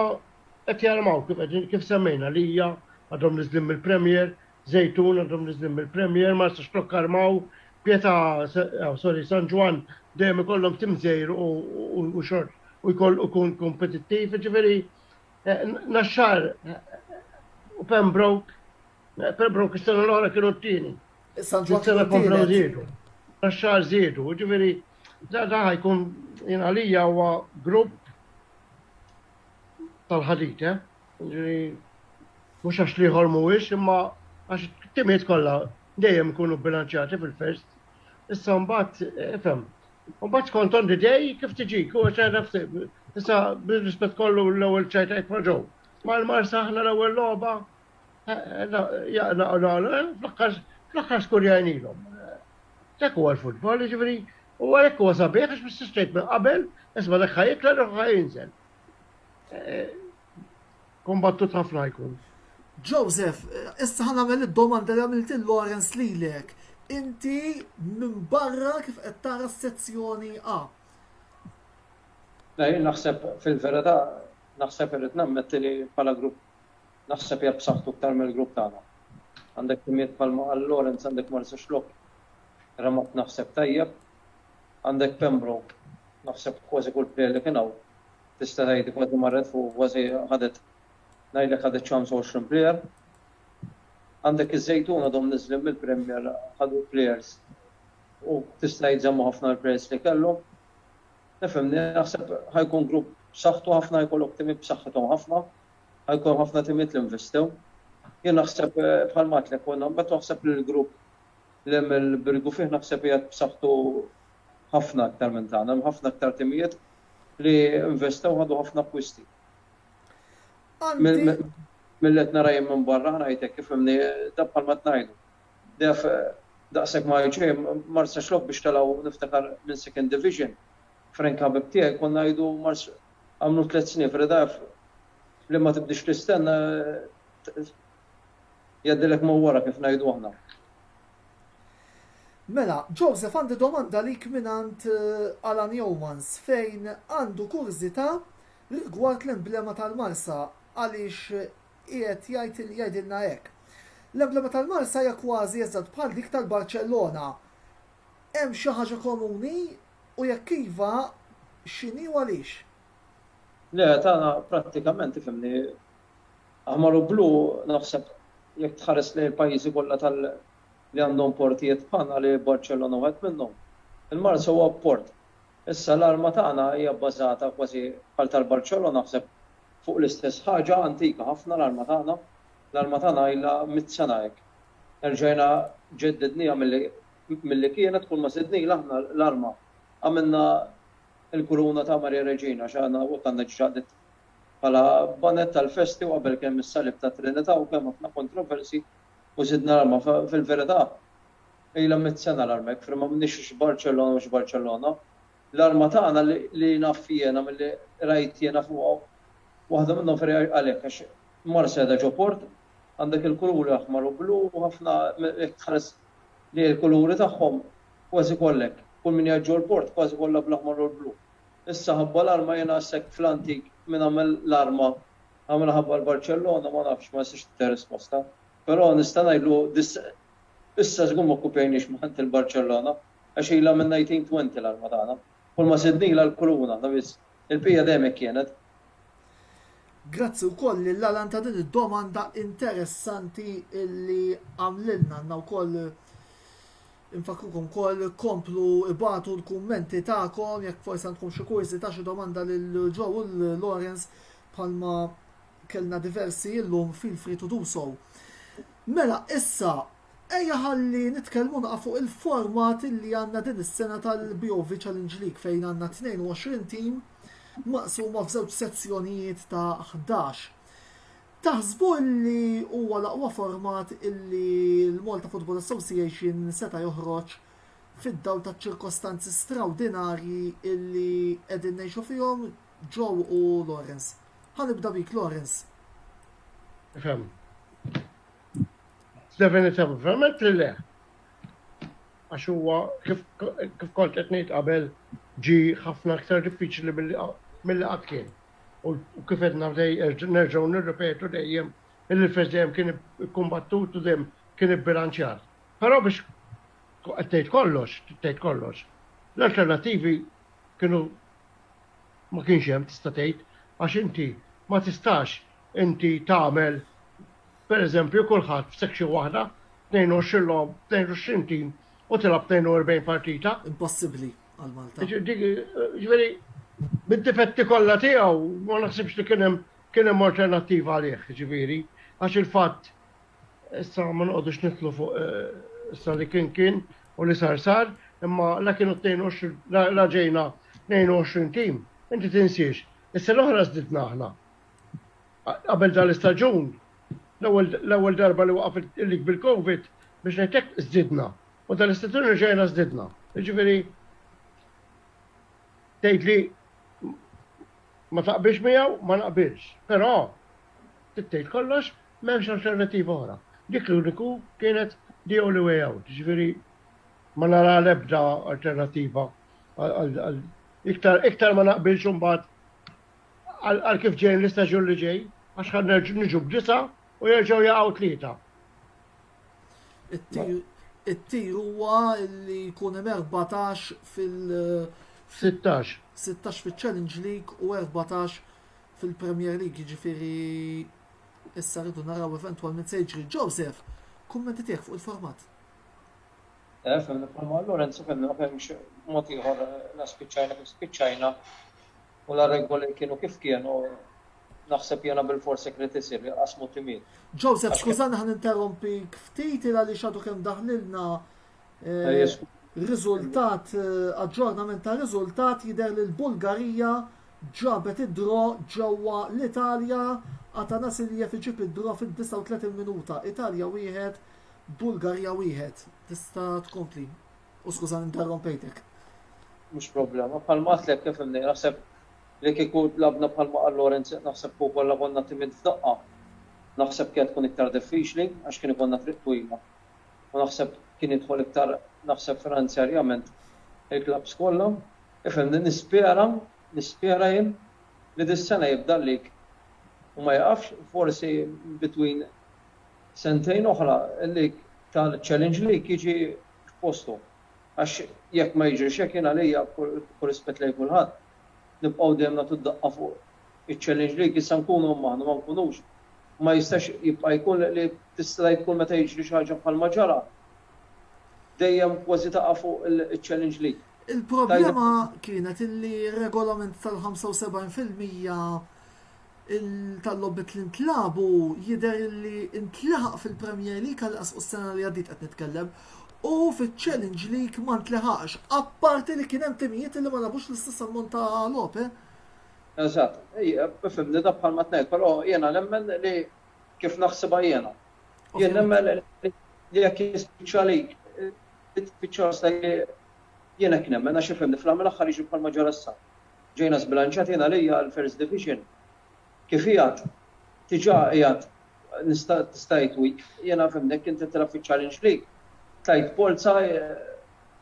qed jarmaw kif qegħdin kif semmejna Lija għadhom niżlin mill-Premier, Żejtun għadhom niżlin mill-Premier, Marsa Xlokk Armaw, Pietà, sorry, San Ġwann dejjem ikollhom tim żgħir u xort u jkoll ikun kompetittiv, jiġifieri Naxxar u Pembroke, Pembroke is-sena l-oħra kienu t-tieni. San Ġwann sena komplew żiedu. Naxxar żiedu, jiġifieri da da jkun jien għalija huwa grupp tal-ħadid, eh? Jiġri mhux għax l-ieħor mhuwiex imma għax it-timijiet kollha dejjem ikunu bilanċjati fil-first. Issa mbagħad ifhem. Mbagħad skont on the day kif tiġi, kull xejn nafs issa bir-rispett kollu l-ewwel ċajt għajt ma' ġew. Ma l-Marsa aħna l-ewwel logħba fl-aħħar skur jgħinilhom. Dak huwa l-futbol, jiġifieri, u għalhekk huwa sabiħ għax mis-sistejt minn qabel, isma' dak ħajikla dak ħajinżel. eh, kombattut ħafna jkun. Joseph, eh, issa ħan għamil id-domanda li għamilt il-Lawrence lilek. Inti minn barra kif qed tara s-sezzjoni A. Lej, naħseb fil-verità, naħseb irrid nammetti li bħala grupp naħseb jgħab saħtu ktar mill-grupp tagħna. Għandek timiet palma għal Lawrence, għandek Marsa Xlok, Ramat naħseb tajjeb, Għandek Pembroke, naħseb kważi kull plejer li kien hawn tista' tgħid kważi marret fuq u kważi ħadet ngħidlek ħadet ċans għoxrin plejer. Għandek iż-Żejtun għadhom niżlin mill-Premier ħadu plejers u tista' tgħid żammu ħafna l-plejers li kellhom. Tifhimni, naħseb ħa jkun grupp b'saħħtu ħafna, jkollok timiet b'saħħithom ħafna, ħa jkun ħafna timiet li investew. Jien naħseb bħalma għedtlek, meta waħseb li l-grupp L-ML Birgu fih naħseb qiegħed b'saħħtu ħafna aktar minn tagħna. Hemm ħafna aktar timijiet li investew ħadu ħafna akkwisti. Milli qed nara jien minn barra ngħid hekk ifhimni dan bħalma qed ngħidu. Dejf daqshekk ma jgħid xejn, Marsax lok biex telgħu niftakar minn Second Division. Frank ħabib tiegħi konna ngħidu Mars għamlu tliet snin f'Redaf li ma tibdiex tistenna Jgħaddilek ma' wara kif ngħidu aħna. Mela, Joseph għandi domanda għalik mingħand Alan Youmans fejn għandu kurżità rigward l-emblema tal-Marsa għaliex qiegħed jgħid li jgħidilna hekk. L-emblema tal-Marsa hija kważi eżatt bħal dik tal-Barċellona. Hemm xi ħaġa komuni u jekk iva x'inhi u għaliex? Le, tagħna prattikament, ifhimni, Aħmar u blu, naħseb jekk tħares lejn il-pajjiżi kollha tal li għandhom portijiet bħalna li Barċellona wieħed minnhom, il-Marsa huwa port. Issa l-arma tagħna hija bbażata kważi bħal tal-Barċellona naħseb fuq l-istess ħaġa, antika ħafna l-arma tagħna. L-arma tagħna ilha mitt sena hekk. Erġajna ġeddidniha milli milli kienet kull ma żidnilha aħna l-arma għamilna l-kuruna ta' Maria Reġina xi għandna u kellna ġġa bħala bonnet tal-festi u qabel kemm is-Salib tat-Trinità u kemm ħafna kontroversji u żidna l-arma fil-verità ilha mitt sena l-arma jekk firma m'għandniex x'Barċellona u x'Barċellona l-arma tagħna li naf jiena milli rajt jiena fuqha waħda minnhom ferri għalhekk għax Marseda ġo port għandek il-kuluri aħmar u blu u ħafna jekk tħares lejn il-kuluri tagħhom kważi kollha hekk kull min qiegħed ġol-port kważi kollha bl-aħmar u l-blu Issa ħabba l-arma jiena għax hekk fl-antik min għamel l-arma għamilha ħabba l-Barċellona ma nafx ma nistax nittiha risposta. Però nista' ngħidlu dis issa żgur ma kkupjajniex minn ħadd il-Barċellona għax ilha min-1920 l-arma tagħna. Kulma sidnilha l-kuruna waħda biss. Il-bqija dejjem hekk kienet. Grazzi wkoll lil Alan ta' din id-domanda interessanti li għamlilna. Għandna wkoll Infakkrukom ukoll komplu ibatu l-kummenti tagħkom jekk forsi għandkom xi kurżità xi domanda lil Joe u Lawrence bħalma kellna diversi illum feel free to do so. Mela, issa, ejja ħalli nitkellmu naqa fuq il-format li għandna din is-sena tal-BOV Challenge League fejn għandna 22 tim maqsuma f'żewġ sezzjonijiet ta' 11. Taħsbu li huwa l-aqwa format li l-Malta Football Association seta' joħroġ fid-dawl taċ-ċirkostanzi strawdinarji li qegħdin ngħixu fihom, Joe u Lawrence? Ħa nibda bik, Lawrence. Fem. Definittivament li le. Għax huwa kif kont qed ngħid qabel ġi ħafna aktar diffiċli mill-li qatt kien. u kif edna nerġgħu nirripetu dejjem illi l-fest dejjem kien ikkumbattut u dejjem kien ibbilanċjat. Però biex qed tgħid kollox, tgħid kollox, l-alternattivi kienu ma kienx hemm tista' tgħid għax inti ma tistax inti tagħmel pereżempju kulħadd f'section waħda 22 logħob, 22 tim u tilgħab 42 partita. Impossibbli għal Malta. Ġifieri bid-difetti kollha tiegħu ma naħsibx li kien hemm kien hemm alternattiva għalih, ġifieri, għax il-fatt issa ma noqgħodux nitlu fuq eh, issa li kien kien u li sar sar, imma la kienu 22 la ġejna 22 tim, inti tinsiex. Issa l-oħra żdidna aħna, qabel dan l-istaġun, l-ewwel darba li waqaf il-lig bil-Covid, biex ngħid hekk, żdidna. U dan l-istaġun reġgħina żdidna. Jiġifieri tgħid li ma taqbilx miegħu, ma naqbilx. Però tgħid kollox m'hemmx alternattiva oħra. Dik l-uniku kienet the only way out. Ġifieri ma nara l-ebda alternattiva iktar ma naqbilx imbagħad għal kif ġejjin l-istaġun li ġej, għax ħa niġu b'disa u jerġgħu jaqgħu tlieta. It-tir huwa li jkun hemm 14 fil- 16. 16 fil-Challenge League u 14 fil-Premier League, ġifiri issa rridu naraw eventualment se jiġri. Joseph, kummenti tiegħek fuq il-format. Eh, fil-format Lorenzo fil-naqem mod ieħor naspiċċajna kif spiċċajna u la regoli kienu kif kienu naħseb jiena bilfors hekk ried isir, iqassmu timijiet. Joseph, skużani ħa ninterrompik ftit il għaliex għadu kemm daħlilna eh, riżultat eh, aġġornament ta' riżultat jidher li l-Bulgarija ġabet id-dro ġewwa l-Italja Atanas Iljev iġib id-dro fid-39 minuta. Italja wieħed, Bulgarija wieħed. Tista' tkompli. U skuża interrompejtek. Mhux problema, bħalma għadtlek kif imni, naħseb li kieku labna bħalma qal Lorenz naħseb kieku kollha konna timid f'daqqa, naħseb kienet tkun iktar diffiċli għax kien ikollna triq twila. U naħseb kien jidħol iktar naħseb finanzjarjament il-klabbs kollha. Ifhimni, nispera, nispera jien li dis-sena jibda l-lig u ma jieqafx, forsi between sentejn oħra l-lig tal-Challenge League jiġi f'posthom. Għax jekk ma jiġrix hekk jien għalija, b'kull rispett lejn kulħadd, nibqgħu dejjem nagħtu d-daqqa fuq iċ-challenge league, issa nkunu hemm aħna ma nkunux, ma jistax jibqa' jkun li tista' tgħid kull meta jiġri xi ħaġa bħalma ġara, dejjem kważi taqa' fuq iċ-challenge league. Il-problema kienet illi r-regolament tal-75 fil-mija tal-logħbiet li ntlagħbu jidher li ntlaħaq fil-Premier League tal-inqas fuq is-sena li għaddiet qed nitkellem, u fiċ-Challenge League ma ntlaħaqx, apparti li kien hemm timijiet li ma lagħbux l-istess ammont ta' logħob, eh. Eżatt. Ifhimni dak bħalma qed ngħid, però jiena nemmen li kif naħsibha jiena. Jien nemmen li jekk jispiċċa għalik, tispiċċa għasek, jien hekk nemmen għax ifhimni fl-aħħar mill-aħħar jiġri bħalma ġara issa. ġejna żbilanċjati jien għalija l-First Division kif qiegħed diġà qiegħed nista' tista' tgħid weak jiena fhimni jekk inti tilgħab fiċ-Challenge League tgħid polza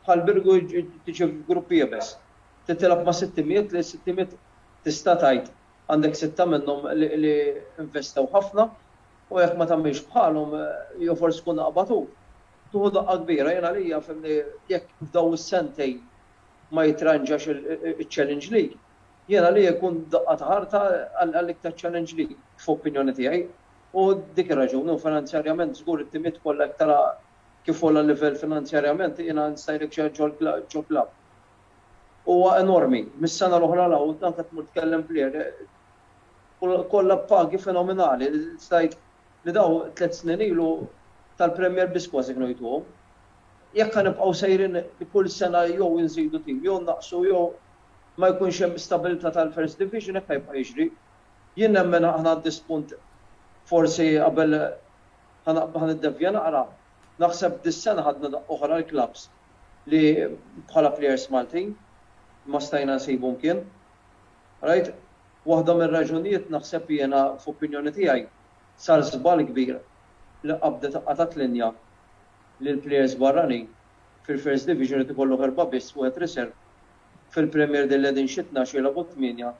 bħal Birgu tiġi f'grupp iebes. Trid tilgħab ma' sitt timijiet li s-sitt timijiet tista' tgħid għandek sitta minnhom li investew ħafna u jekk ma tagħmilx bħalhom jew forsi tkun aqbadut tieħu daqqa kbira. Jien għalija fhimni jekk f'dawn is-sentejn ma jittranġax iċ-Challenge League, jien għalija jkun daqqa ta' ħarta għall-iktar Challenge League, f'opinjoni tiegħi. U dik ir-raġuni, u finanzjarjament żgur it-timiet kollha jekk tara kif għola livell finanzjarjament jiena nista' ngħidlek xi ħaġa ġol-klabb. Huwa enormi. Mis-sena l-oħra 'l hawn anke tmur tkellem plejer kollha b'pagi fenomenali li tista' tgħid li dawn tliet snin ilu tal-Premier biss kważi gnojtuhom. Jekk ħa nibqgħu sejrin li kull sena jew inżidu tim jew nnaqqsu jew ma jkunx hemm stabilità tal-First Division hekk ħa jibqa' jiġri. Jien nemmen aħna għand diżpunt forsi qabel ħa niddevja naqra, naħseb dis-sena ħadna daqqa oħra l-klabbs li bħala plejers Maltin ma stajna nsibu mkien. Rajt? Waħda mir-raġunijiet naħseb li jiena, f'opinjoni tiegħi, sar żball kbir li qabdet qatgħet linja li l-plejers barranin fil-First Division irid ikollok erbgħa biss, wieħed riserv, fil-Premier Din li qegħdin xi tnax jilgħbu tmienja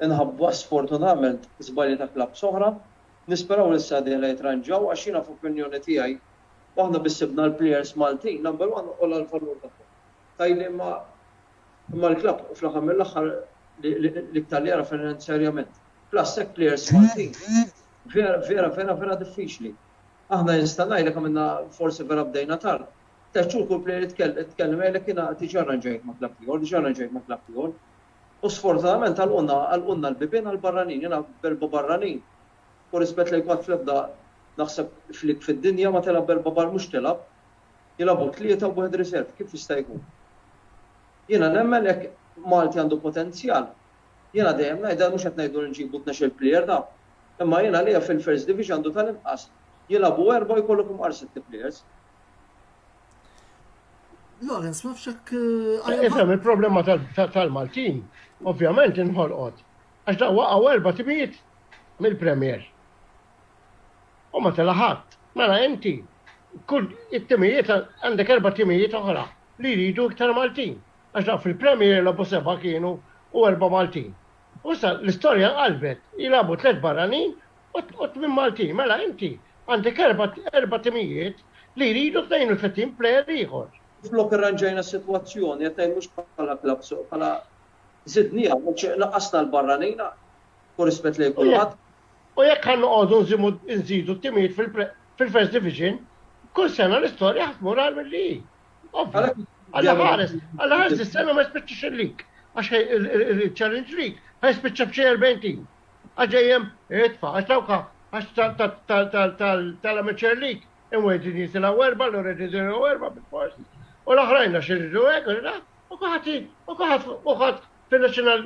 inħabba sfortunatament żbalji ta' klabbs oħra. Nisperaw li s-sena d-dieħla jitranġaw għax jiena f'opinjoni tiegħi aħna biss sibna l-plejers Maltin number one u l-valur tagħhom. tajjeb imma imma l-klabb fl-aħħar mill-aħħar l-iktar li jara finanzjarjament. Plus hekk plejers Maltin vera vera vera vera diffiċli. Aħna nista' ngħidlek għamilna forsi vera bdejna tard. Tliet xhur kull plejer jitkellem jgħidlek jiena diġà rranġajt ma' klabb ieħor, diġà rranġajt ma' klabb ieħor. U sfortunatament għalqulna għalqulna l-bibien għall-barranin. Jiena b'erba' barranin, b'kull rispett lejk m'għad fl-ebda naħseb flik fid-dinja ma tilgħab b'erba' barra mhux tilgħab. Jilagħbu tlieta u wieħed riserv, kif jista' jkun? Jiena nemmen jekk Malti għandu potenzjal, jiena dejjem ngħidha mhux qed ngħidu li nġibu tnexxel plejer naf, imma jien għalija fil-First Division għandu tal-inqas jilagħbu erbgħa u jkollok imqar sitt plejers. Lawrence, ma fxek. Eh, Ifhem il-problema tal-Maltin, ovvjament inħolqot. Għax da waqgħu erba' timijiet mill-Premier. u ma tela' ħadd. Mela inti kull it-timijiet għandek erba' timijiet oħra li jridu iktar Maltin. Għax dawk fil-Premier jilgħobu seba' kienu u erba' Maltin. U issa l-istorja nqalbet, jilagħbu tliet barranin u tmien Maltin. Mela inti għandek erba' timijiet li jridu 32 plejer ieħor. Flok irranġajna s-sitwazzjoni, qed ngħid mhux bħala klabb, bħala żidniha, għax naqqasna l-barranin, u rispett lejn kulħadd. U jekk ħa noqogħdu nżimu nżidu t-timijiet fil-First Division, kull sena l-istorja ħadd mur għal milli hi. Alla ħares, alla ħares is-sena ma jispiċċax il-lig. Għax il-Challenge League ħaj spiċċa b'xi 40 tim. Għaġejjem itfa, għax dawka għax tal-Amateur League imweġin jisilaw erba, l-oredi jisilaw erba bil-fors. U l-oħrajna xirridu għek, u kuħati, u kuħat, u kuħat fil-National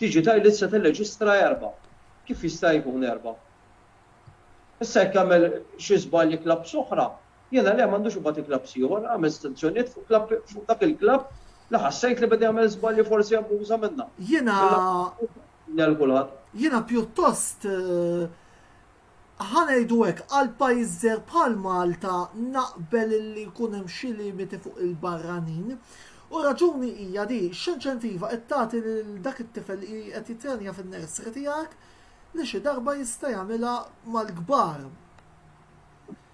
Digital li tista' tirreġistra erba'. Kif jista' jkun erba'? Issa jekk jagħmel xi żball xi klabb s'oħra, jiena le m'għandux ibati klabbs ieħor, għamilt stanzjonijiet fuq klabb fuq dak il-klabb li ħassejt li beda jagħmel żbalji forsi abbuża minnha. Jiena jiena pjuttost ħa ngħidu hekk, għal pajjiż żgħir bħal Malta naqbel li jkun hemm xi limiti fuq il-barranin. U r-raġuni hija di, x'inċentiva qed tagħti lil dak it-tifel li qed jittrenja fin-nursery tiegħek li xi darba jista' jagħmilha mal-kbar?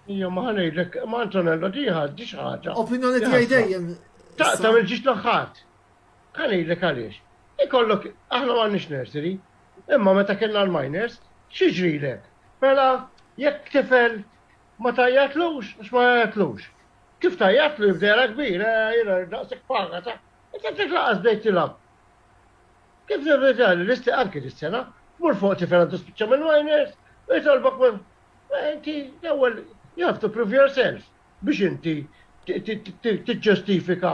Iva, ma ħa ngħidlek, ma Antonello di ħa di xi ħaġa. Opinjoni tiegħi dejjem. Ta' tagħmel ġiex l-aħħat. Ħa ngħidlek għaliex. Ikollok aħna m'għandniex nursery, Imma meta kellna l-minors, x'jiġrilek? Mela jekk tifel ma tgħajjatlux, għax ma jgħajjatlux. Kif tgħajjatlu jibda jara kbir, eh, jiena daqshekk paga ta' inti għandek laqas bdejt tilgħab. Kif nirrita li l-isti anke dis-sena, mur fuq tifel għandu spiċċa mill-minors, u jitolbok minn eh, inti l-ewwel you have to prove yourself biex inti tiġġustifika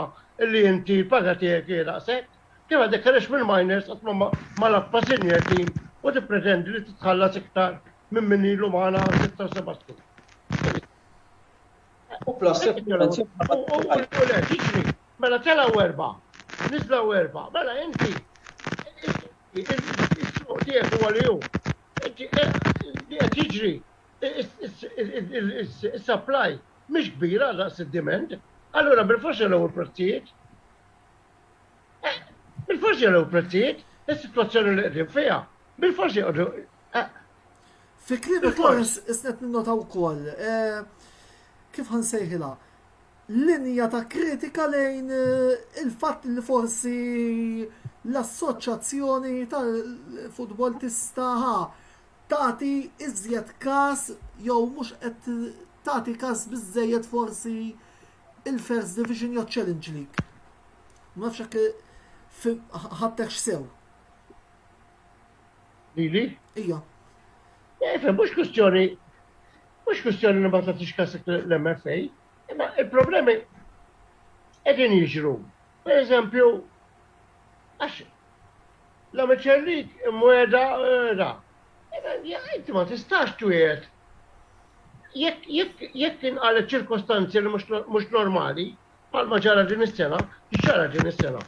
li inti l-paga tiegħek daqshekk. Kif għad ikkerex mill-miners qatt ma ma lappa senior team u tippretendi li titħallas iktar minn min ilu magħna għal sitt sa seba' snin. U plus U le, jiġri, mela telgħu erba', niżlaw erba', mela inti is-suq tiegħek huwa li hu. Inti qed jiġri is-supply mhix kbira daqs id-demand, allura bil-forsi l-ewwel prezzijiet. Eh, bil-forsi għal prezzijiet, is-situazzjoni li qdim fija, bil-forsi għadu. Eh. Fi klim il-kors, isnet ninnota u koll, eh, kif għan sejħila, linja ta' kritika lejn il-fat li forsi l-assoċazzjoni tal-futbol tistaħa tati iżjed kas jew mux qed tati kas bizzejet forsi Il-First Division jew Challenge League? Ma nafx jekk ħadtek x'sew. Lili? Ija. Efe, eh, mhux kwistjoni mhux kwistjoni li ma tagħtix kasek l-MFA, imma il-problemi qegħdin jiġru. Pereżempju, għax la miċerrik imwegħda ra. Inti ma tistax twiegħed jekk inqalet ċirkostanzi li mhux normali, bħalma ġara din is-sena, ġara din is-sena.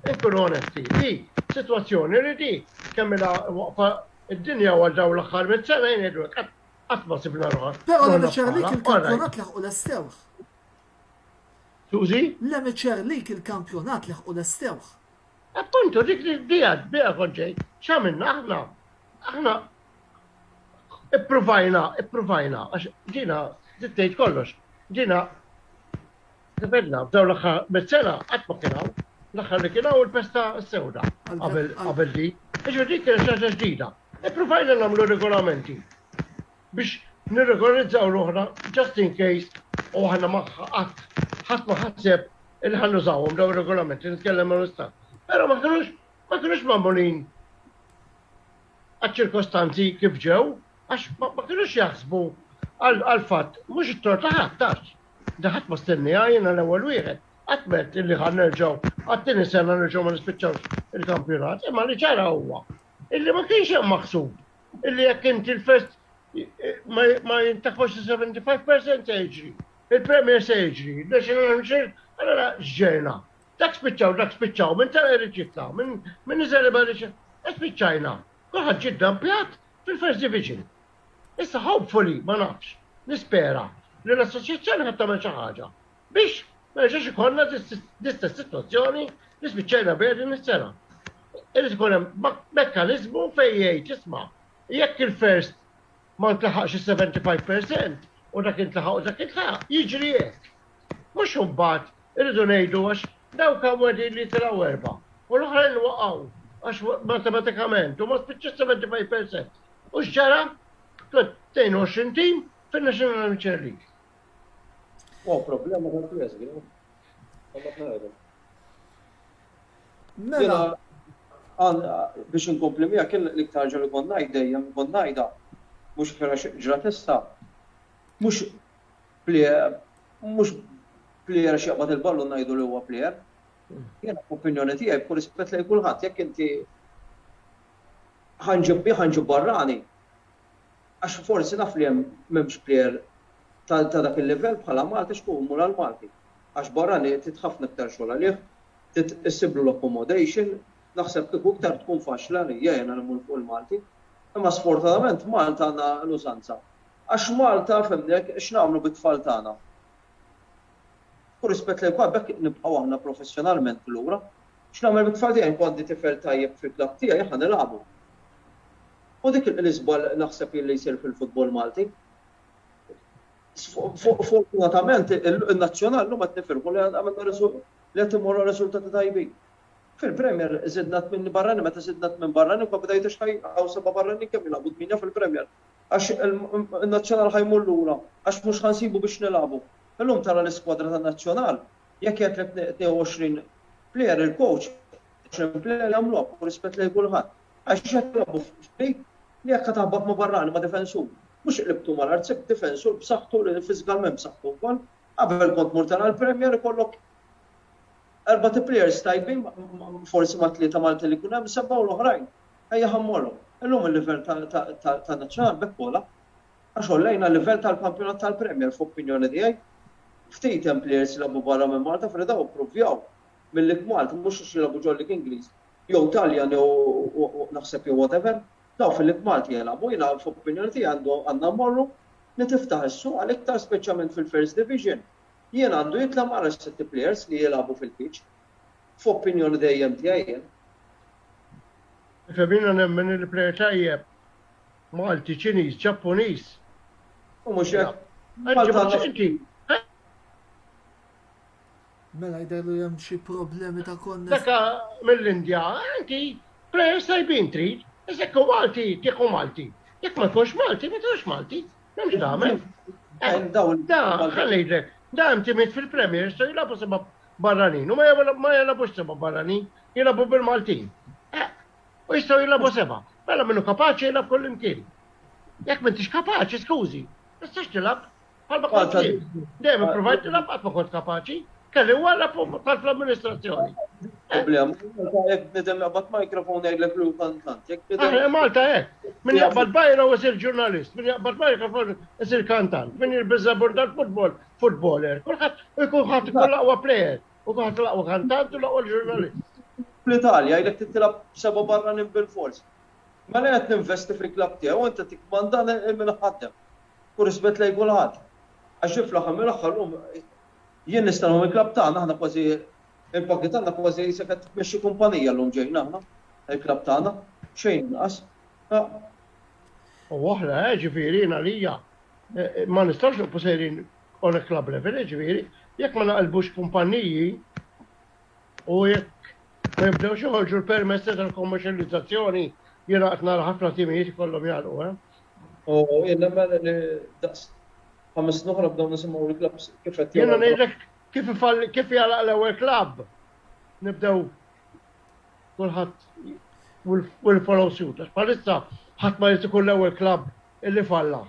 Inkunu onesti, di sitwazzjoni li di kemm ilha waqfa id-dinja għal dawn l-aħħar mit sena jgħidu qatt ma sibna ruħna. Però la miċerrik il-kampjonat laħqu lestewh. Suzi? Le Miċer lik il-kampjonat leħqu lestewh. Appuntu dik li biha biha kont ġejt. X'għamilna aħna? Aħna ippruvajna, ippruvajna għax ġina ġiet tgħid kollox. Ġina Tibedna, f'daw l-axħar, mit-sena, għatma kienaw, l-axħar li kienaw il-pesta s-sewda, għabel di, iġu dik kienet xaġa ġdida. Iprufajna namlu regolamenti. biex nirregolarizzaw ruħna just in case u aħna ma qatt ħadd ma ħaseb li ħa nużawhom dawn ir-regolamenti nitkellem ma' l-istat. Però ma kinux ma kinux magħmulin għaċ-ċirkostanzi kif ġew għax ma kinux jaħsbu għal-fatt mhux it-tort ta' ħadd tax. Daħat ma stennija jiena l-ewwel wieħed għatmet illi ħan nerġaw, għattini sena nerġaw ma nispiċċawx il-kampjonat, imma li ċara huwa illi ma kienx hemm maħsub illi jekk inti l-fest ma jintafax 75% se jiġri. Il-Premier se jiġri, il-National Mixir, għara ġġejna. Dak spiċċaw, dak spiċċaw, minn tara irrid jitla, minn iżel iba li spiċċajna. Kulħadd ġid dampjat fil-First Division. Issa hopefully, ma nafx, nispera li l-assoċjazzjoni ħadd tagħmel xi ħaġa. biex ma nerġgħux ikollna l-istess sitwazzjoni li spiċċajna biha din is-sena. Irid ikun hemm mekkaniżmu fejn jgħid isma' jekk il-first ma ntlaħaqx is-75% u dak intlaħaq u dak intlaħaq, jiġri hekk. Mhux imbagħad irridu ngħidu għax dawk hawn qegħdin li tilgħu erba' u l-oħrajn waqgħu għax matematikament u ma spiċċa 75%. U x'ġara? 22 tim fin-National Amateur League. Oh, problema ta' press, għu. Mela. Biex nkompli mija kien l-iktar ġol ikon najd dejjem ikon najda. Mux fera ġra testa. Mux plejer, mux plejer xieqbat il-ballu najdu li huwa plejer. Jena opinjoni tijaj, b'kull rispet li kulħadd, jekk inti ħanġibbi ħanġib barrani, Għax forsi naf li hemm m'hemmx plejer ta' ta' dak il-livell bħala Malti x'ku mmur għal Malti. Għax barrani trid ħafna iktar xogħol għalih, trid issiblu l-accommodation, naħseb kieku iktar tkun faċli għalija jiena li mmur fuq il-Malti. Imma sfortunatament Malta għandna l-użanza. Għax Malta fehmni hekk x'nagħmlu bit-tfal tagħna? B'kull rispett lejn kulħadd b'hekk nibqgħu aħna professjonalment lura? X'nagħmel bit-tfal tiegħi? Jekk għandi tifel tajjeb fil-club tiegħi aħna nilagħbu. U dik l-iżball naħseb jien li jsir fil-futbol Malti. Fortunatament in-Nazzjonal llum qed nifirħu li għamilna li qed immorru riżultati tajbin. Fil-Premier żidna tmien barranin, meta żidna tmien barranin ma bdejtux ħaj hawn seba' barranin kemm jilagħbu tmienja fil-Premier. Għax in-Nazzjonal ħa jmur lura, għax mhux ħa nsibu biex nilagħbu. Illum tara l-iskwadra tan-Nazzjonal, jekk jgħidlek 22 plejer il-coach, 20 plejer jagħmluha b'rispett lejn kulħadd. Għax qed nilgħabu f'frig li jekk qed taħbat ma' barrani, ma' difensur, mhux qlibtu mal-art, sibt difensur b'saħħtu li fiżikalment b'saħħtu wkoll, qabel kont mur tara l-Premier ikollok erbat players tajbin forsi ma' tlieta Maltin li jkun hemm, sebgħa u l-oħrajn ejja ħa mmorru. Illum il-livell tan-Nazzjonali b'hekk ogħla għax għollejna l-livell tal-kampjonat tal-Premier f'opinjoni tiegħi. Ftit hemm players li jilgħabu barra minn Malta f'Rieda u pprovjaw mill-ikmal mhux għax jilgħabu ġol-Lig Ingliż jew Taljan jew naħseb jew whatever, dawn fil-Lig Malti jilagħbu, jiena f'opinjoni tiegħi għandna mmorru li tiftaħ is-suq għal iktar speċjalment fil-First Division. Jien għandu jitla' ma arax sitt plejers li jilagħbu fil-pitch. F'opinjoni dejjem tiegħi jien. Ifhem jiena nemmen li plejer tajjeb Malti, Ċiniż, Ġappuniż. U mhux hekk. Malta għandha Mela jidher li hemm xi problemi ta' konna. Daka mill-Indja, inti plejers tajbin trid, iżda jekk Malti tieħu Malti. Jekk ma jkunx Malti, ma tieħux Malti. M'hemmx tagħmel. Da, ħallejlek, da hemm timid fil-Premier jistgħu jilagħbu seba' barranin u ma jilagħbux seba' barranin, jilagħbu bil-Maltin. U jistgħu jilagħbu seba'. Mela minnu kapaċi jilagħb kullimkien. Jekk m'intix kapaċi, skużi, tistax tilgħab. Għalba kont dejjem provajt nilab qatt ma kont kapaċi, kelli wara tal-amministrazzjoni. Problem, Malta hekk bnedem jaqbad mikrofon jgħidlek lu kantant. Malta hekk. Min jaqbad bajra u jsir ġurnalist, min jaqbad mikrofon isir kantant, min jirbiża burda l-futbol, futboler. Kulħadd ikun ħadd ikun laqwa plejer, u kulħadd laqwa kantant u laqwa ġurnalist. Fl-Italja jgħidlek titilab seba' barranin bil-fors. Mela qed ninvesti fil-klabb tiegħu, inti tikmanda minn ħaddem. u rispett lejn kulħadd. Għax jien fl-aħħar mill-aħħar llum jien nista' nħobb il-klabb tagħna, aħna kważi il-pagi tagħna kważi qisek qed tmexxi kumpanija llum ġejna aħna, il-klabb tagħna, xejn inqas. U oħra, jiġifieri jien għalija ma nistgħux nibqgħu sejrin on a club level, jiġifieri jekk ma naqilbux kumpaniji u jekk ma jibdewx joħorġu l-permessi tal-kommerċjalizzazzjoni jiena qed nara ħafna timijiet ikollhom jagħlqu, eh? U jien nemmen li daqs ħames snin oħra bdew nisimgħu l-klabbs kif qed Jiena jagħmlu. ngħidlek kif ifall kif jalaq l-ewwel klabb. Nibdew kulħadd will- will follow suit. Għax bħalissa ħadd ma jrid ikun l-ewwel klabb illi falla.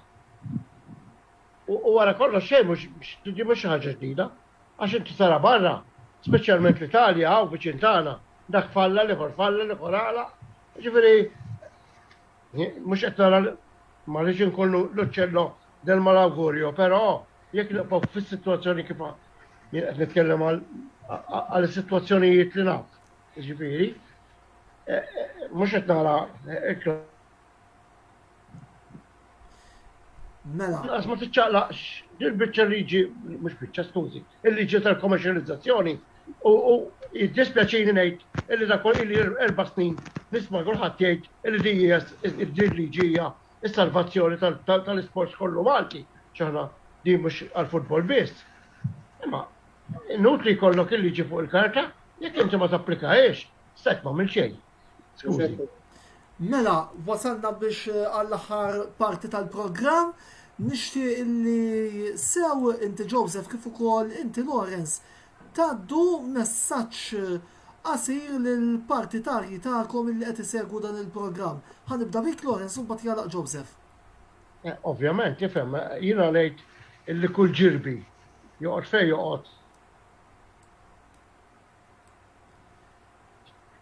U u wara kollox xejn mhux din mhux xi ħaġa ġdida. Għax inti tara barra, speċjalment l-Italja hawn viċin tagħna, dak falla, l-ieħor falla, l-ieħor għalaq. Jiġifieri Mhux qed nara ma rridx inkollu l-uċċello del malaugurio, però jekk nibqgħu fis-sitwazzjoni kif jien qed nitkellem għal is-sitwazzjonijiet li naf, jiġifieri, mhux qed nara Mela. Għas ma tiċċaqlaqx, il-bicċa liġi, mux bicċa, skużi, il-liġi tal-kommerċializzazzjoni U jiddispjaċini ngħid illi dak kollu illi erba' snin nisma' kulħadd jgħid illi din hija din liġi hija s-salvazzjoni tal-isports kollu Malti. X'aħna din mhux għall-futbol biss. Imma inutli jkollok il-liġi fuq il-karta jekk inti ma tapplikahiex, strajk m'għamil xejn. Mela, wasalna biex eh, għall-aħħar parti tal-programm. Nixti li sew inti Joseph kif ukoll inti Lawrence taddu messaġġ eh, qasir lill-partitarji tagħkom li qed isegwu dan il-programm. Ħanibda bik Lawrence u mbagħad jalaq Joseph. Eh, ovvjament, tifhem, jiena ngħid illi kull ġirbi joqgħod fejn joqgħod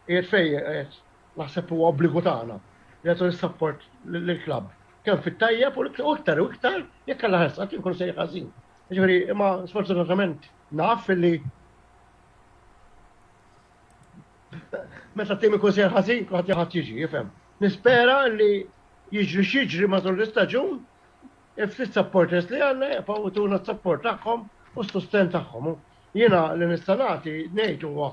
Qiegħed fej qed naħseb huwa obbligu tagħna li nagħtu l-sapport lill-klabb. Kemm fit-tajjeb u iktar u iktar jekk għal ħarsa kien kun sejħ ħażin. Ġifieri imma sfortunatament naf li meta tim ikun sejħ ħażin kulħadd jaħad jiġi, jifhem. Nispera li jiġri xiġri matul l-istaġun il-ftit supporters li għanna jibqaw tuna support tagħhom u s-susten tagħhom. Jiena li nista' nagħti, ngħid huwa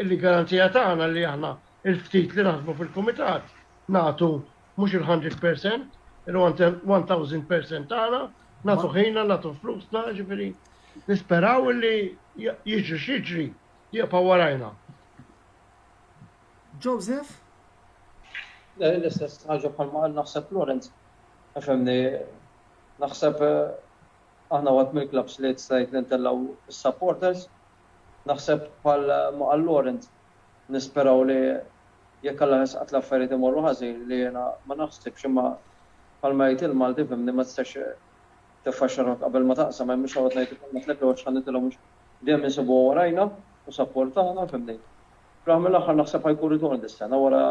li garanzija tagħna li aħna l-ftit li naħdmu fil-Kumitat nagħtu mhux il-hundred percent, il-one thousand percent tagħna, nagħtu ħinna, nagħtu flusna, ġifieri nisperaw li jiġri x'jiġri jibqa' warajna. Joseph? L-istess ħaġa bħalma qal naħseb Lawrence, għax hemmni naħseb Aħna waħed mill-klabbs li stajt li ntellgħu s-supporters. Naħseb bħal ma qal Laurent, nisperaw li jekk Alla jħoss qatt l-affarijiet imorru ħażin, li jiena ma naħsibx imma bħalma jgħid il-Malti fhimni ma tistax tiffaxxa ruħek qabel ma taqsam, hemm biex noqgħod ngħid ukoll ma tlifewhx ħa nitilgħu mhux dejjem insibuha warajna u supportana fhimni. Fl-aħħar mill-aħħar naħseb ħa jkun ritorn dis-sena wara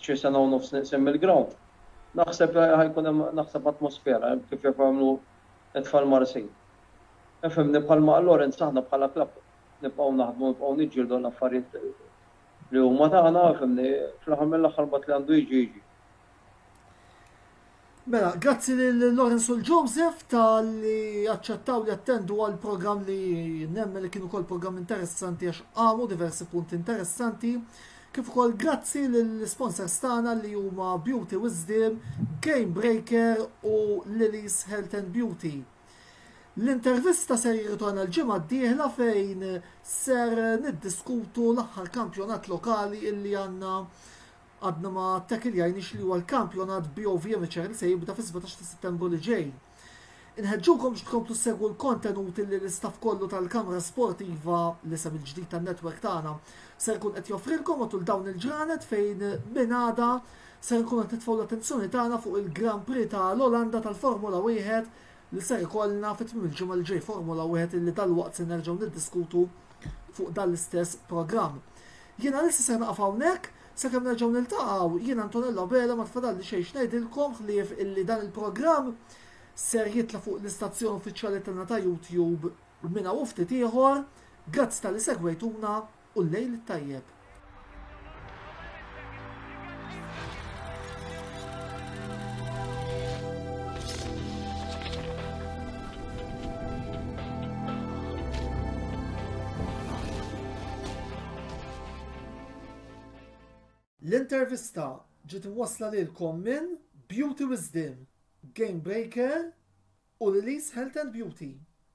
xi sena u nofs nieqsin mill-ground, naħseb ħa jkun hemm naħseb atmosfera hekk kif jafu jagħmlu t-tfal Marsin. Ifhimni bħal ma' Lawrence aħna bħala klabb nibqgħu naħdmu nibqgħu niġġieldu għal affarijiet li huma tagħna ifhimni fl-aħħar mill-aħħar mbagħad li għandu jiġi jiġi. Mela, grazzi lil Lawrence u l-Joseph tal-li aċċettaw li attendu għal program li nemmen li kienu kol program interessanti għax għamu diversi punti interessanti. Kif ukoll grazzi lill-sponsors tagħna li huma Beauty Wisdom, Game Breaker u Lily's Health and Beauty. L-intervista ser jirritorna l-ġimgħa d-dieħla fejn ser niddiskutu l-aħħar kampjonat lokali illi għandna Għadna ma ttakiljajniex li huwa l-kampjonat BOV Amateur li se jibda fis-17 ta' Settembru li ġej. Inħeġġukom biex tkomplu ssegwu l-kontenuti li l-istaff kollu tal-Kamra Sportiva, l-isem il-ġdid tan-network tagħna, ser ikun qed joffrilkom matul dawn il-ġranet fejn minn għada ser inkunu qed nitfgħu l-attenzjoni tagħna fuq il-Grand Prix ta' l-Olanda tal-Formula Wieħed li ser ikollna fi tmiem il-ġimgħa li ġej Formula Wieħed illi dalwaqt se nerġgħu niddiskutu fuq dan l-istess programm. Jien għalissa se naqaf hawnhekk, sakemm nerġgħu niltaqgħu, jien Antonella Bela ma tfadalli xejn x'ngħidilkom ħlief illi dan il-programm ser jitla' fuq l-istazzjon uffiċjali tagħna ta' YouTube minn hawn u ftit ieħor. Grazzi talli segwejtuna. u l-lejl it-tajjeb. L-intervista ġiet wasla lilkom minn Beauty Wisdom, Game Breaker u Lilies Health and Beauty.